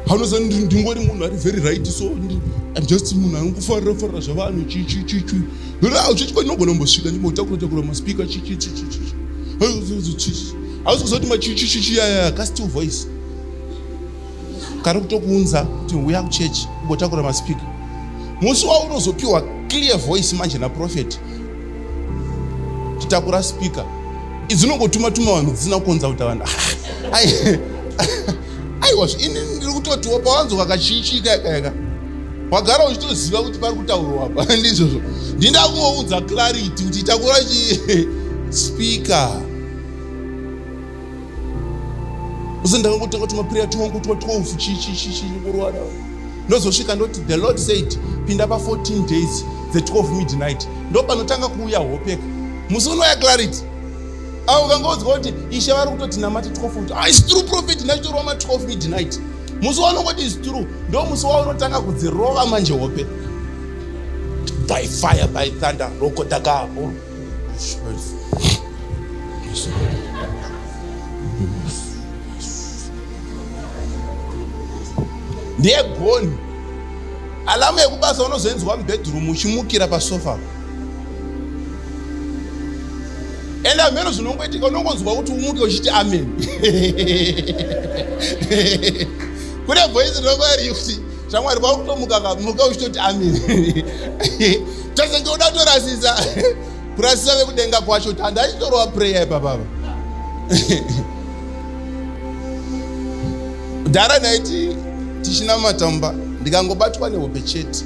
haunozani ndingori munhu ari very right so im just munhu anongofarira farira zvavanhu chichichichi hauchichi kwainogona mbosvika ndimbotakura takura maspika chichichichichi hauzi kuzoti machichichichi yaya ka still voice kari kutokuunza kuti huya kuchechi ugotakura maspika musi waunozopiwa clear voice manje naprofeti titakura spika idzinongotuma tuma vanhu dzisina kukonza kuta vanhu aiwa ini ndiri kutotiwa pawanzo kakachiichiika ikaika wagara uchitoziva kuti pari kutaurwa apa ndizvozvo ndinda kungounza clarity kuti takura chi spika uzondanga kutanga kuti maprayer twangu twa 12 chii chii chii chii kurwara ndozosvika ndoti the lord said pinda pa 14 days the 12 midnight ndo panotanga kuuya hopeka musi unoya clarity avo kangaodzwa kuti ishe vari kutoti namati 12 kuti ah, is true prophet ndachitorwa ma 12 midnight musi waunongoti is true ndo musi waunotanga kudzirova manje hope by fire by thunder roko takaapo ndiye goni alamu yekubasa unozoinzwa mubedroom uchimukira pasofa ende hameno zvinongoitika unongonzwa kuti umuke uchiti amen kune voice rinongoiri kuti shamwari vakutomuka kamuka uchitoti amen Tese ndoda torasisa kurasisa vekudenga kwacho tanda achitorova prayer ipapapa. Dhara naiti tichinamata mumba ndikangobatwa nehope chete.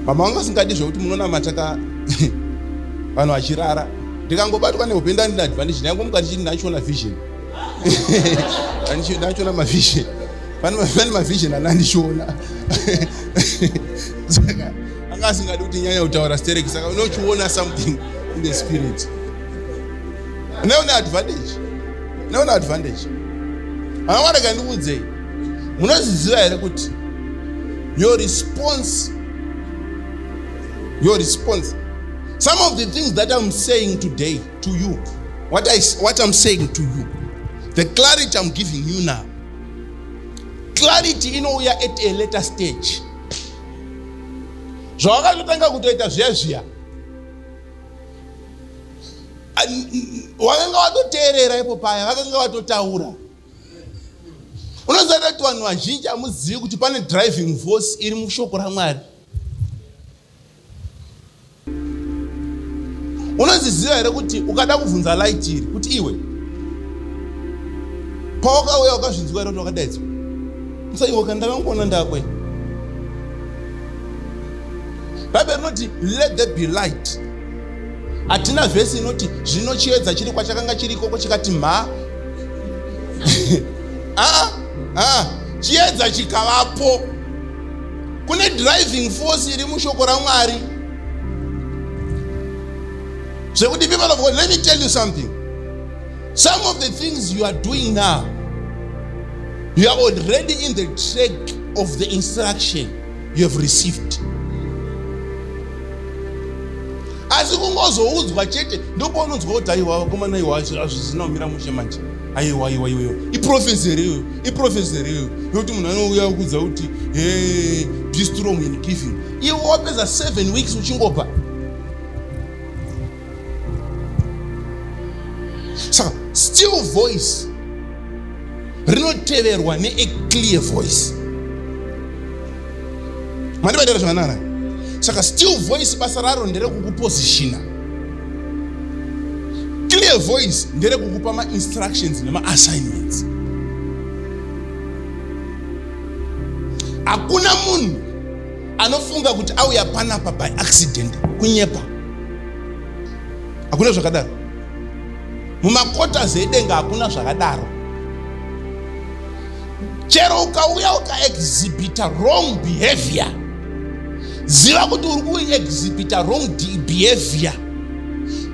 Mama vanga singadi zvekuti munonamata ka vanhu vachirara ndikangobatwa nehope ndandina advantage ndangomuka ndichiti ndachiona vision ndachiona mavision pane mavision ana andichiona saka anga asingadi kuti nyanya kutaura sterek saka unochiona something in the spirit unaona advantage unaona advantage anamwareka ndikuudzei munozviziva here kuti your response your response some of the things that i'm saying today to you what, I, what i'm saying to you the clarity i'm giving you now clarity inouya at a later stage zvawakatotanga kutoita zviya zviya wakanga watoteerera ipo paya vakanga vatotaura unoziva kuti vanhu vazhinji hamuzivi kuti pane driving force iri mushoko ramwari unozviziva here kuti ukada kuvhunza light iri kuti iwe pawakauya wakazvinzwa here kuti wakadaidzwa so iwe ka ndakangoona ndakwe bhaibheri rinoti let the be light hatina vhesi inoti zvino chiedza chiri kwachakanga chiri ikoko chikati mha aa ah, ah, ah, chiedza chikavapo kune driving force iri mushoko ramwari zvekuti people of god let me tell you something some of the things you are doing now you are already in the track of the instruction you have received asi kungozoudzwa chete ndopaunonzwa kuti aiwa vakomana iwa hazvisina kumira mushe manje aiwa aiwa iyoyo iprofesi here iyoyo iprofesi here iyoyo yokuti munhu anouya kudza kuti he be strong in giving iwe wapedza seven weeks uchingopa saka still voice rinoteverwa neaclear voice mandivaitira zvakanaka saka still voice basa raro nderekukupositiona clear voice nderekukupa mainstructions nemaassignments hakuna munhu anofunga kuti auya panapa by accident kunyepa hakuna zvakadaro mumakota zedenga hakuna zvakadaro chero ukauya ukaexhibita wrong behavior ziva kuti uri kuexhibita wrong behavior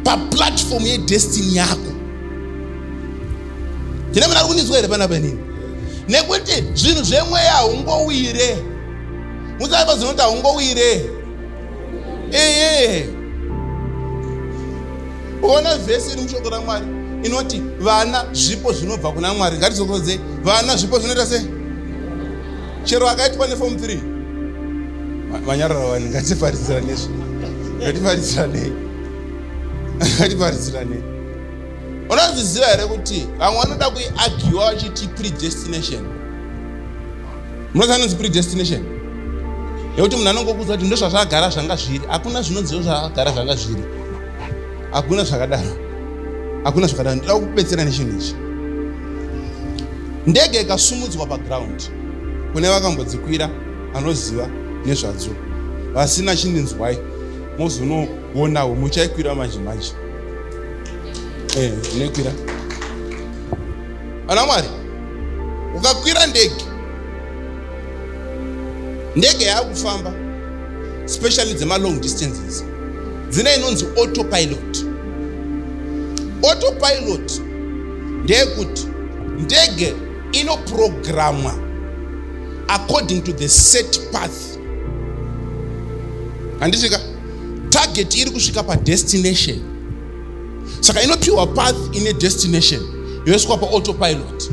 paplatform yedestiny yako tine muna ri kunizwa here pana panini nekuti zvinhu zvemweya haungowire musaipa zinoti haungowire ee Ona vhesi iri mushoko raMwari inoti vana zvipo zvinobva kuna Mwari. Ngatizokodzei, vana zvipo zvinoita sei? Chero akaitwa nefomu 3 vanyarara vani, ngatifaridzirane izvi, ngatifaridzirane, ngatifaridzirane. Unozviziva here kuti vamwe vanoda kuiagiwa vachiti predestination? Munoziva anonzi predestination yekuti munhu anongokudza kuti ndozvazvagara zvanga zviri, hakuna zvinonziwo zvagara zvanga zviri hakuna zvakadaro hakuna zvakadaro ndoda kukubetsera nechinhu ichi ndege ikasumudzwa paground kune vakambodzikwira anoziva nezvadzo vasina chindinzwai mozonoonawo muchaikwira manje manje eh, nekwira ana mwari ukakwira ndege ndege yaakufamba especially dzemalong distances dzina inonzi autopilot autopilot ndeyekuti ndege inoprogramwa according to the set path handisvika target iri kusvika padestination saka inopiwa path ine destination yoiswa paautopilote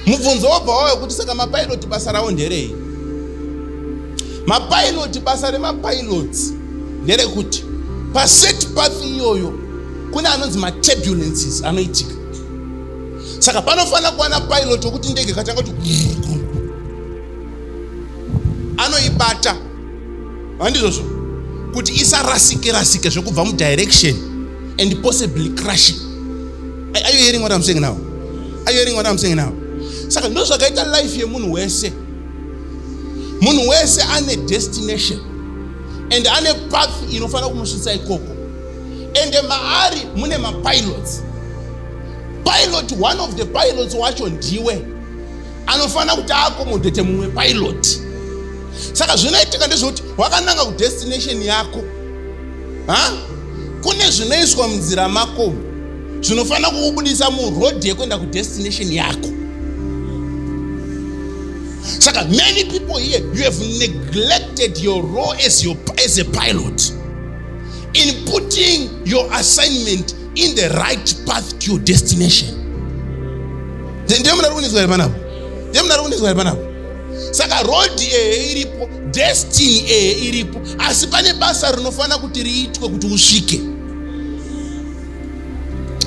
mubvunzo wobva wava wekuti saka mapailoti basa ravo nderei mapailoti basa remapailoti nderekuti paset path iyoyo kune anonzi maturbulences anoitika saka panofanira kuwana pilot wekuti ndege katanga kuti anoibata handizvozvo kuti isarasike rasike zvekubva mudirection and possibly crush are you hearing what i'm saying now are you hearing what i'm saying now saka ndo zvakaita life yemunhu wese munhu wese ane destination and ane path inofanira kumusvitsa ikoko and maari mune mapilots pilot one of the pilots wacho ndiwe anofanira kuti aakomodhete mumwe pilot saka zvinoitika ndezvekuti wakananga kudestination yako ha kune zvinoiswa munzira mako zvinofanira kukubudisa muroad yekuenda kudestination yako saka many people here you have neglected your role as, your, as a pilot in putting your assignment in the right path to your destination ndiye munhu ari kunetswa here panapo ndiye munhu ari kunetswa here panapo saka road eye iripo destiny eye iripo asi pane basa rinofanira kuti riitwe kuti usvike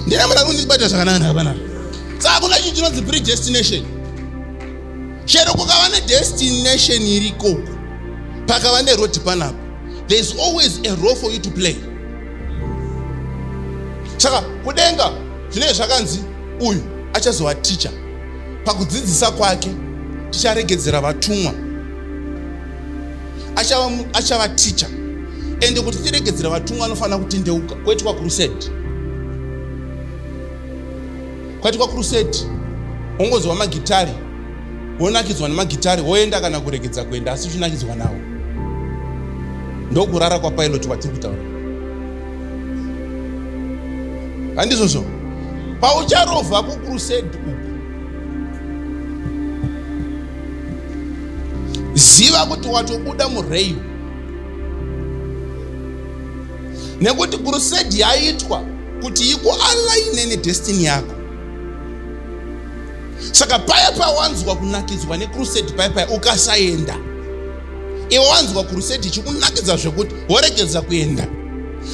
ndina munhu ari kundibata zvakanaka ndakapanapo saka kuna chinhu chinonzi predestination chero kukava nedestination irikoko pakava neroad panapo there is always a role for you to play saka kudenga zvinenge zvakanzi uyu achazova ticha pakudzidzisa kwake ticharegedzera vatumwa achava, achava ticha ende kuti tiregedzera vatumwa anofanira kutendeuka kwaitwa kurusedi kwaitwa kurusedi ongozova magitari wonakidzwa nemagitare woenda kana kuregedza kuenda asi uchinakidzwa nawo ndokurara kwapilot kwatiri kutaura handizvozvo paucharova kucrusade uku ziva kuti watobuda mureyu nekuti crusade yaitwa kuti ikualaine nedestiny yako saka paya pawanzwa kunakidzwa nekrusedi paya paya ukasaenda iwe wanzwa krusedi ichikunakidza zvekuti woregedza kuenda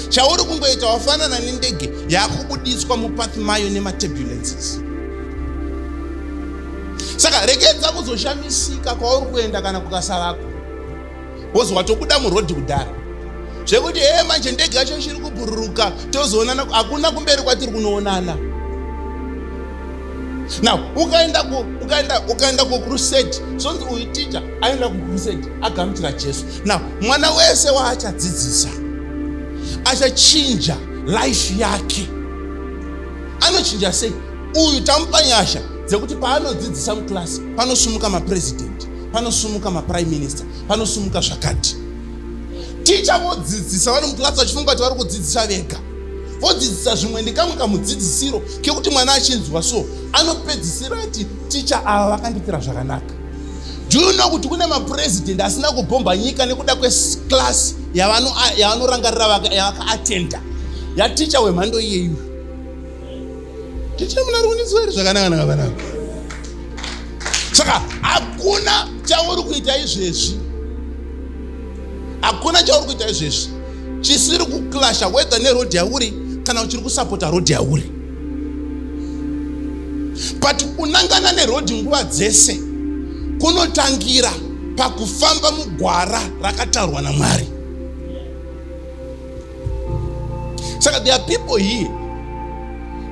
chauri kungoita wafanana nendege yakubuditswa mupath mayo nematurbulences saka regedza kuzoshamisika kwauri kuenda kana kukasavako was watobuda muroad kudhara zvekuti hee manje ndege yacho ichiri kubhururuka tozoonana hakuna kumberi kwatiri kunoonana now ukaenda ku ukaenda ukaenda ku crusade sonzi uyu teacher aenda ku crusade agamuchira jesu now mwana wese waachadzidzisa achachinja life yake anochinja sei uyu tamupa nyasha dzekuti paanodzidzisa muclass panosumuka mapresident panosumuka maprime minister panosumuka zvakati ticha vodzidzisa vari muclass vachifunga kuti vari kudzidzisa vega vodzidzisa zvimwe ndikamwe kamudzidzisiro kekuti mwana achinzwa so anopedzisira ati ticha ava vakandipira zvakanaka do you know kuti kune mapurezidendi asina kubhomba nyika nekuda kweclass yavanorangarira yavakaatenda yaticha wemhando iyeyu ndichina munari kundinzwa here zvakanaka naka vanaka saka hakuna chauri kuita izvezvi hakuna chauri kuita izvezvi chisiri kuclasha whether nerodhi yauri kana uchiri kusapota rodhi yauri but unangana nerodhi nguva dzese kunotangira pakufamba mugwara rakatarwa namwari saka there are people here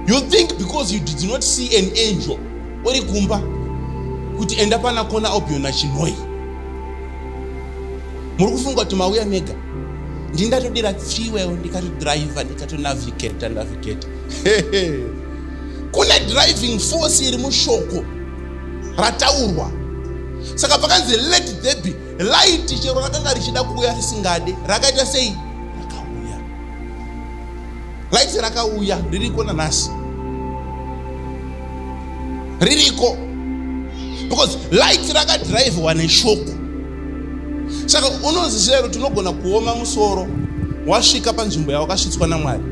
you think because you did not see an angel uri kumba kuti enda pana kona obiona chinoi muri kufunga kuti mauya mega ndingatodira fuel ndikatodriver ndikatonavigata navigata kune driving force iri mushoko rataurwa saka pakanzi let there be Light chero rakanga richida kuuya risingade, rakaita sei? Rakauya. Light rakauya, ririko nanhasi. Ririko. Because light rakadrivewa neshoko. Saka unonzi zero tinogona kuoma musoro wasvika panzvimbo yawakasvitswa naMwari.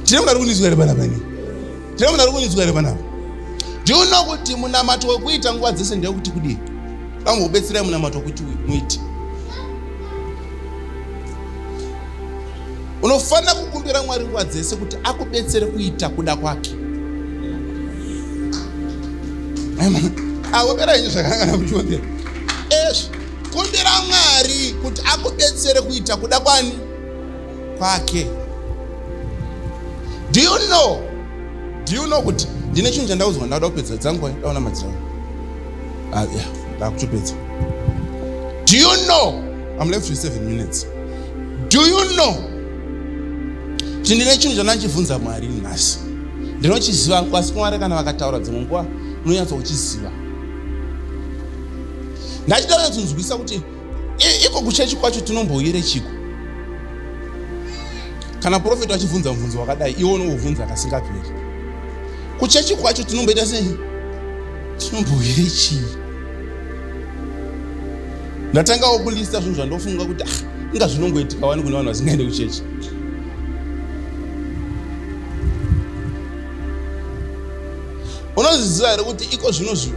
Tinoda kunizwa here bana bani? Tino muna rukunyudzwa here panapa? Do you know kuti munamato wekuita nguva dzese ndewekuti kudii? Vamwe kubetserai munamato wekuti muiti. Unofanira kukumbira Mwari nguva dzese kuti akubetsere kuita kuda kwake. Awopera ah, inyi zvakangana kuchivambira. Ezvi, kumbira Mwari kuti akubetsere kuita kuda kwani? kwake do you know do you know kuti ndine chinhu chandaudzwa ndauda kupedza dzangu ndaona madzirao ah, yeah ndakutopedza do you know i'm left with seven minutes do you know kuti ndine chinhu chandachibvunza mwari nhasi ndinochiziva kwasi mwari kana vakataura dzimwe nguva unonyatsa kuchiziva ndachida kunyatsonzwisa kuti iko kuchechi kwacho tinombouyire chiko kana profeti achibvunza mubvunzo wakadai iwe unoubvunza kasingaperi kuchechi kwacho tinomboita sei tinombouyire chii ndatangawo kulista zvinhu zvandofunga kuti ah, inga zvinongoitika wani kune vanhu vasingaende kuchechi unozviziva here kuti iko zvino zvino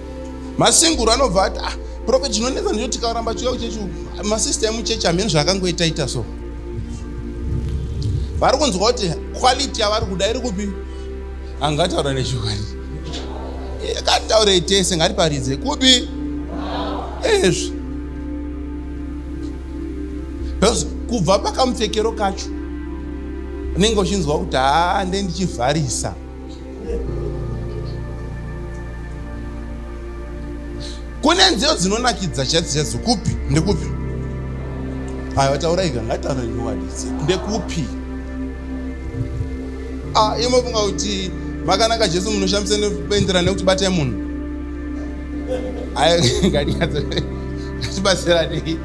masinguru anobva ati ah prophet zvinonetsa ndicho tikaramba tiuya kuchechi masista emuchechi hamene zvaakangoita ita so vari kunzwa kuti quality yavari kuda iri kupi angataura nechokwadi akataurei eh, tese ngatiparidze kupi ezvi because kubva pakamupfekero kacho unenge uchinzwa kuti haa nde ndichivharisa kune nziyo dzinonakidza chaidzo chaidzo kupi ndekupi aya vataura ika ngataura nyowadizi ndekupi ah, imofunga kuti makanaka jesu munoshamisa nekuenderana nekuti batai munhu aya ngatibatsiranei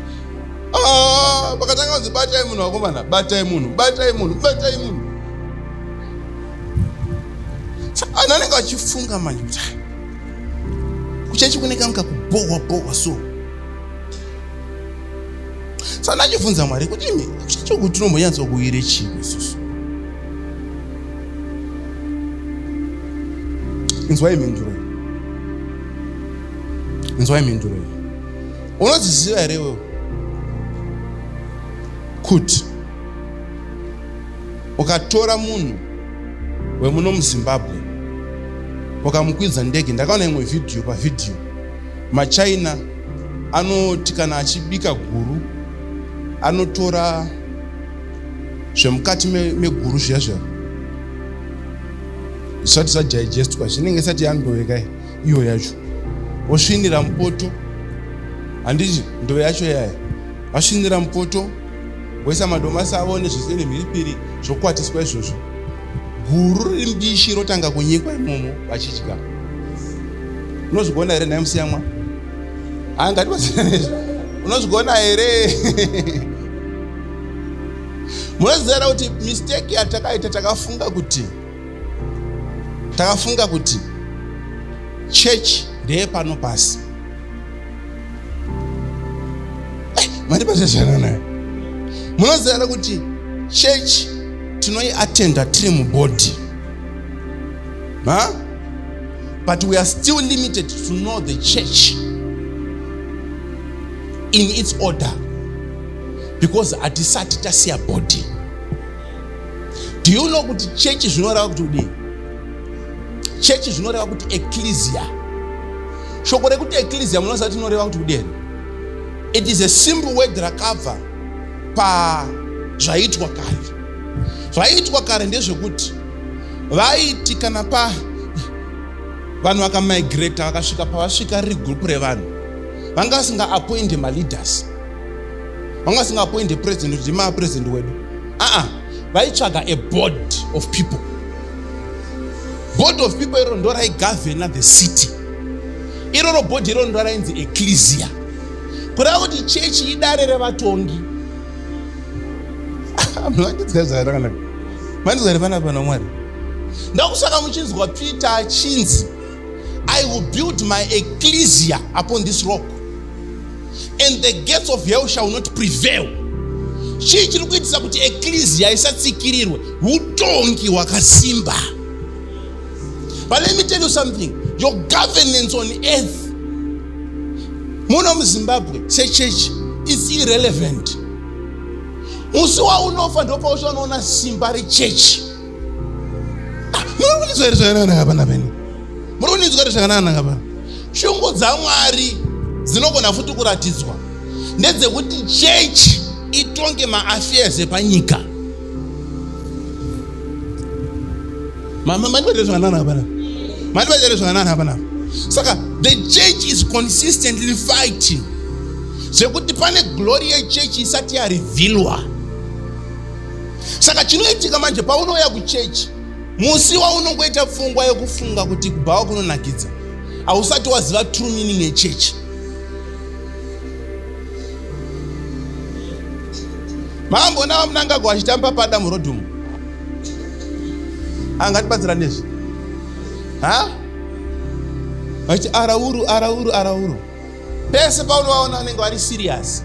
vakatanga ah, kunzi batai munhu vakomana batai munhu batai munhu batai munhu Ana anenge achifunga manje kuti kuchechi kune kanhu kakubohwa bohwa so sana achibvunza mwari kuti imi kuchechi uku tinombonyatsa kuire chii isusu inzwai mhinduro iyi inzwai mhinduro iyi unodziziva here wewe kuti ukatora munhu wemuno muzimbabwe ukamukwidza ndege ndakaona imwe vhidhiyo pavhidhiyo machina anoti kana achibika guru anotora zvemukati meguru zviya zviya zvisati zvadigestwa zvinenge isati yandoveka iyo yacho osvinira mupoto handiti ndove yacho yaya asvinira mupoto Voisa madomasi avo nezvese nemhiripiri zvokwatiswa izvozvo. Guru riri mbishi rotanga kunyikwa imomo vachidya. Unozvigona here nhai musiyamwa? Haa ngatibatsirane izvo. Unozvigona here? Munoziva here kuti mistake yatakaita takafunga kuti takafunga kuti church ndeyepano pasi. mandibata zvakanaka munoziva here kuti chechi tinoiatenda tiri mubody huh? but we are still limited to know the church in its order because hatisati tasiya body do you know kuti chechi zvinoreva kuti kudii chechi zvinoreva kuti ecclesia shoko rekuti ecclesia munoziva kuti inoreva kuti kudii it is a simple word rakabva pazvaitwa kare zvaitwa kare ndezvekuti vaiti kana pa vanhu vakamigrata vakasvika pavasvika riri gurupu revanhu vanga vasinga appointe maleaders vanga vasinga appointe president kuti ndimaa president wedu aa vaitsvaga a board of people board of people iro ndo raigavhena the city iroro bhodhi iroro ndo rainzi eklesia kureva kuti chechi idare revatongi manizwari pana pana mwari ndakusaka muchinzwa peter achinzi i will build my eklesia upon this rock and the gates of hell shall not prevail chii chiri kuitisa kuti eklesia isatsikirirwe utongi hwakasimba But let me tell you something. Your governance on earth, muno muZimbabwe, say church, is irrelevant. Musi waunofa ndopauchanoona simba rechechi. Ah, muri kuninzwa here zvakanaka vana venyu? Muri kuninzwa here zvakanaka vana? Shungu dzaMwari dzinogona futi kuratidzwa ndedzekuti chechi itonge maaffairs epanyika. mandibatira zvakanana hapana mandibatira zvakanana hapana saka the church is consistently fighting zvekuti pane glory yechurch isati yarivhilwa saka chinoitika manje paunouya kuchechi musi waunongoita pfungwa yekufunga kuti kubhawa kunonakidza hausati waziva true meaning yechechi Mambo na Mnangagwa achitamba pada murodhi umu. Angatibatsira nezvi. Ha? Vachi arauru arauru arauru. Pese paunovaona vanenge vari serious.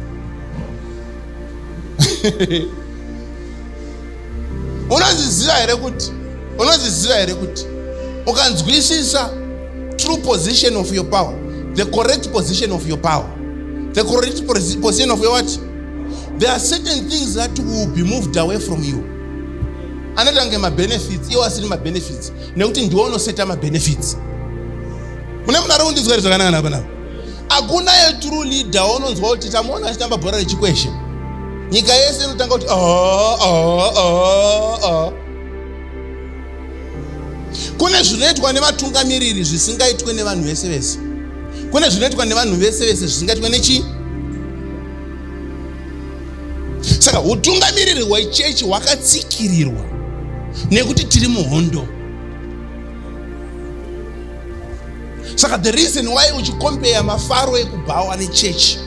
Unozviziva here kuti unozviziva here kuti ukanzwisisa true position of your power, the correct position of your power, the correct position of your what? there are certain things that will be moved away from you anoita kunge mabenefits iwo asiri mabenefits nekuti ndiwo unoseta mabenefits mune munhu ari kundinzwa ri zvakanaka napa napa hakuna yetrue leader waunonzwa kuti tamuona achitamba bhora rechikweshe nyika yese inotanga kuti oh, oh, oh, oh. kune zvinoitwa nevatungamiriri zvisingaitwe nevanhu vese vese kune zvinoitwa nevanhu vese vese zvisingaitwe nechii saka utungamiriri hwechechi hwakatsikirirwa nekuti tiri muhondo saka the reason why uchikompeya mafaro ekubhawa nechechi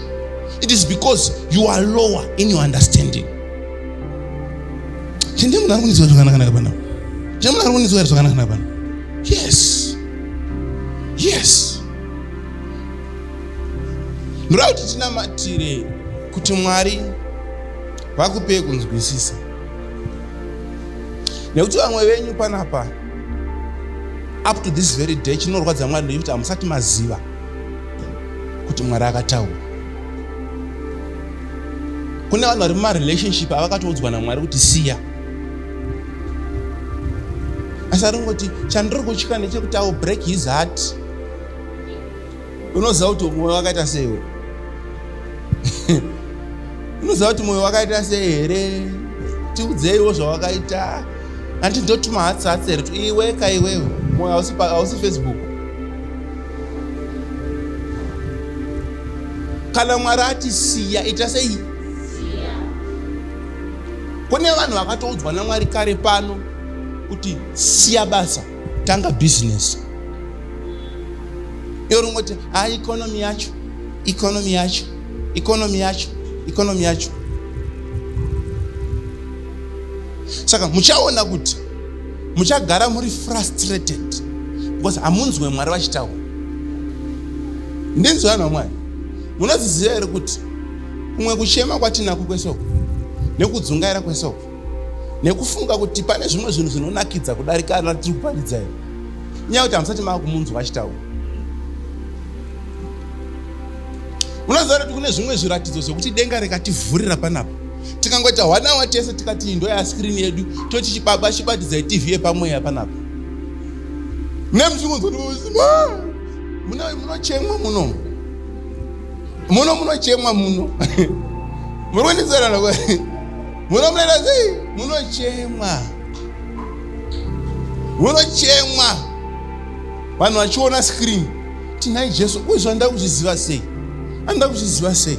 it is because you are lower in your understanding Chindiye munhu ari kunizwa zvakanakanaka pano. Chindiye munhu ari kunizwa zvakanakanaka pano. Yes. Yes. Ndoda kuti tinamatire kuti Mwari vakupei kunzwisisa. Nekuti vamwe venyu panapa up to this very day chinorwadza Mwari ndechikuti hamusati maziva. kuti mwari akataura kune vanhu vari mumarelationship avakatoudzwa namwari kuti siya asi ari kungoti chandiri kutya ndechekuti au break his heart unoziva kuti mwoyo wakaita seiwe unoziva kuti mwoyo wakaita sei here tiudzeiwo zvawakaita hanti ndotuma hatsi hatsi here iwe ka iwewe mwoyo hausi facebook kana mwari ati siya ita sei kune vanhu vakatoudzwa namwari kare pano kuti siya basa tanga bhizinesi iyo ringoti ha ikonomi yacho ikonomi yacho ikonomi yacho ikonomi yacho saka muchaona kuti muchagara muri frustrated because hamunzwe mwari vachitaura ndinzwa vanhu vamwari munoziziva here kuti kumwe kuchema kwatinako kwesoko nekudzungaira kwesoko nekufunga kuti pane zvimwe zvinhu zvinonakidza kudarika ana tiri kuparidza here nyaya kuti hamusati mava kumunzwa achitaura munoziva kuti kune zvimwe zviratidzo zvekuti denga rikativhurira panapa tikangoita hwanawa tese tikati indo yaskrini yedu toti chibaba chibatidzai tv yepamweya panapa nemuzvimunochemwa muno muno munochemwa muno murikunisarana muno munoita sei munochemwa munochemwa vanhu vachiona screen tinai jesu uizvo andida kuzviziva sei andida kuzviziva sei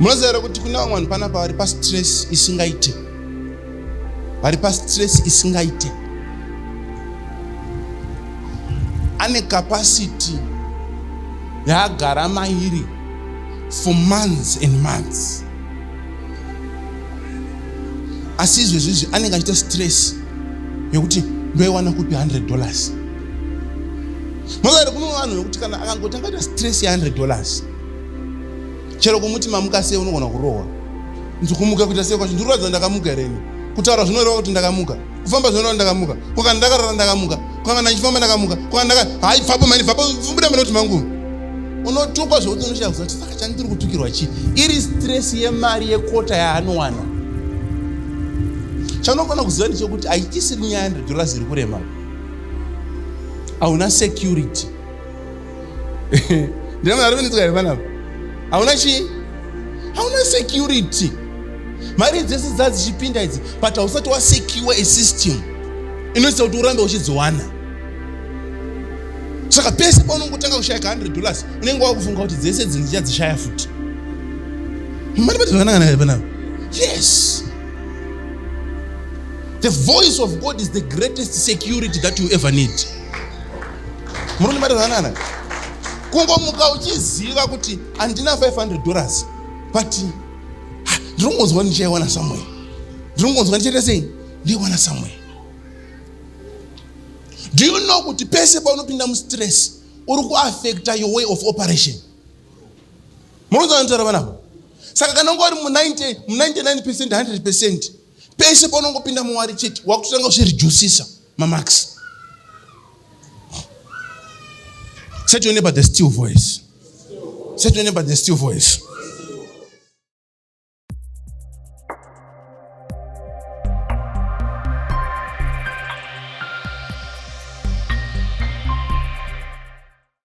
munoziva here kuti kune vamwe vanhu panapa vari pastress isingaite vari pastress isingaite ane capacity yaagara mairi for months and months asi izvezvizvi anenge achiita stress yekuti ndoiwana kupi 100 dollars Mozari kune vanhu vekuti kana akangoti akaita stress ya 100 dollars chero kumuti mamuka sei unogona kurohwa nzi kumuka kuita sei kwacho ndikuratidza ndakamuka here ini kutaura zvinoreva kuti ndakamuka kufamba zvinoreva ndakamuka kwakana ndakarara ndakamuka kwakana ndichifamba ndakamuka kwakana hai pfapo mani pfapo mbuda mani kuti mangu unotukwa zvekuti unoshakuza kuti saka chandiri kutukirwa chii iri stress yemari yekota yaanowana chanofana kuziva ndichokuti haitisiri nyaya 100 dollars iri kurema hauna security ndina mari venetsika here panapa hauna chii hauna security mari dzese dzaa dzichipinda idzi but hausati wasecure a system inoitisa kuti urambe uchidziwana saka pese paunongotanga kushayika 100 dollars unenge wakufunga kuti dzese dzinhu dzichadzishaya futi mari pati zvakanangana here panapa yes The voice of God is the greatest security that you ever need. Murunimarizanana. Kungomuka uchiziva kuti andina 500 dollars but ah, ndirongonzwa ndichaiwana somewhere. Ndirongonzwa ndichaita sei? Ndiwana somewhere. Do you know kuti pese paunopinda mu stress uri kuaffecta your way of operation? Munonzwa nditaura vanavo? saka kana unga uri mu 90 mu 99 percent 100 percent pese paunongopinda muwari chete wakutotanga kuzvirijusisa mamax set your neighbor the still voice set your neighbor the still voice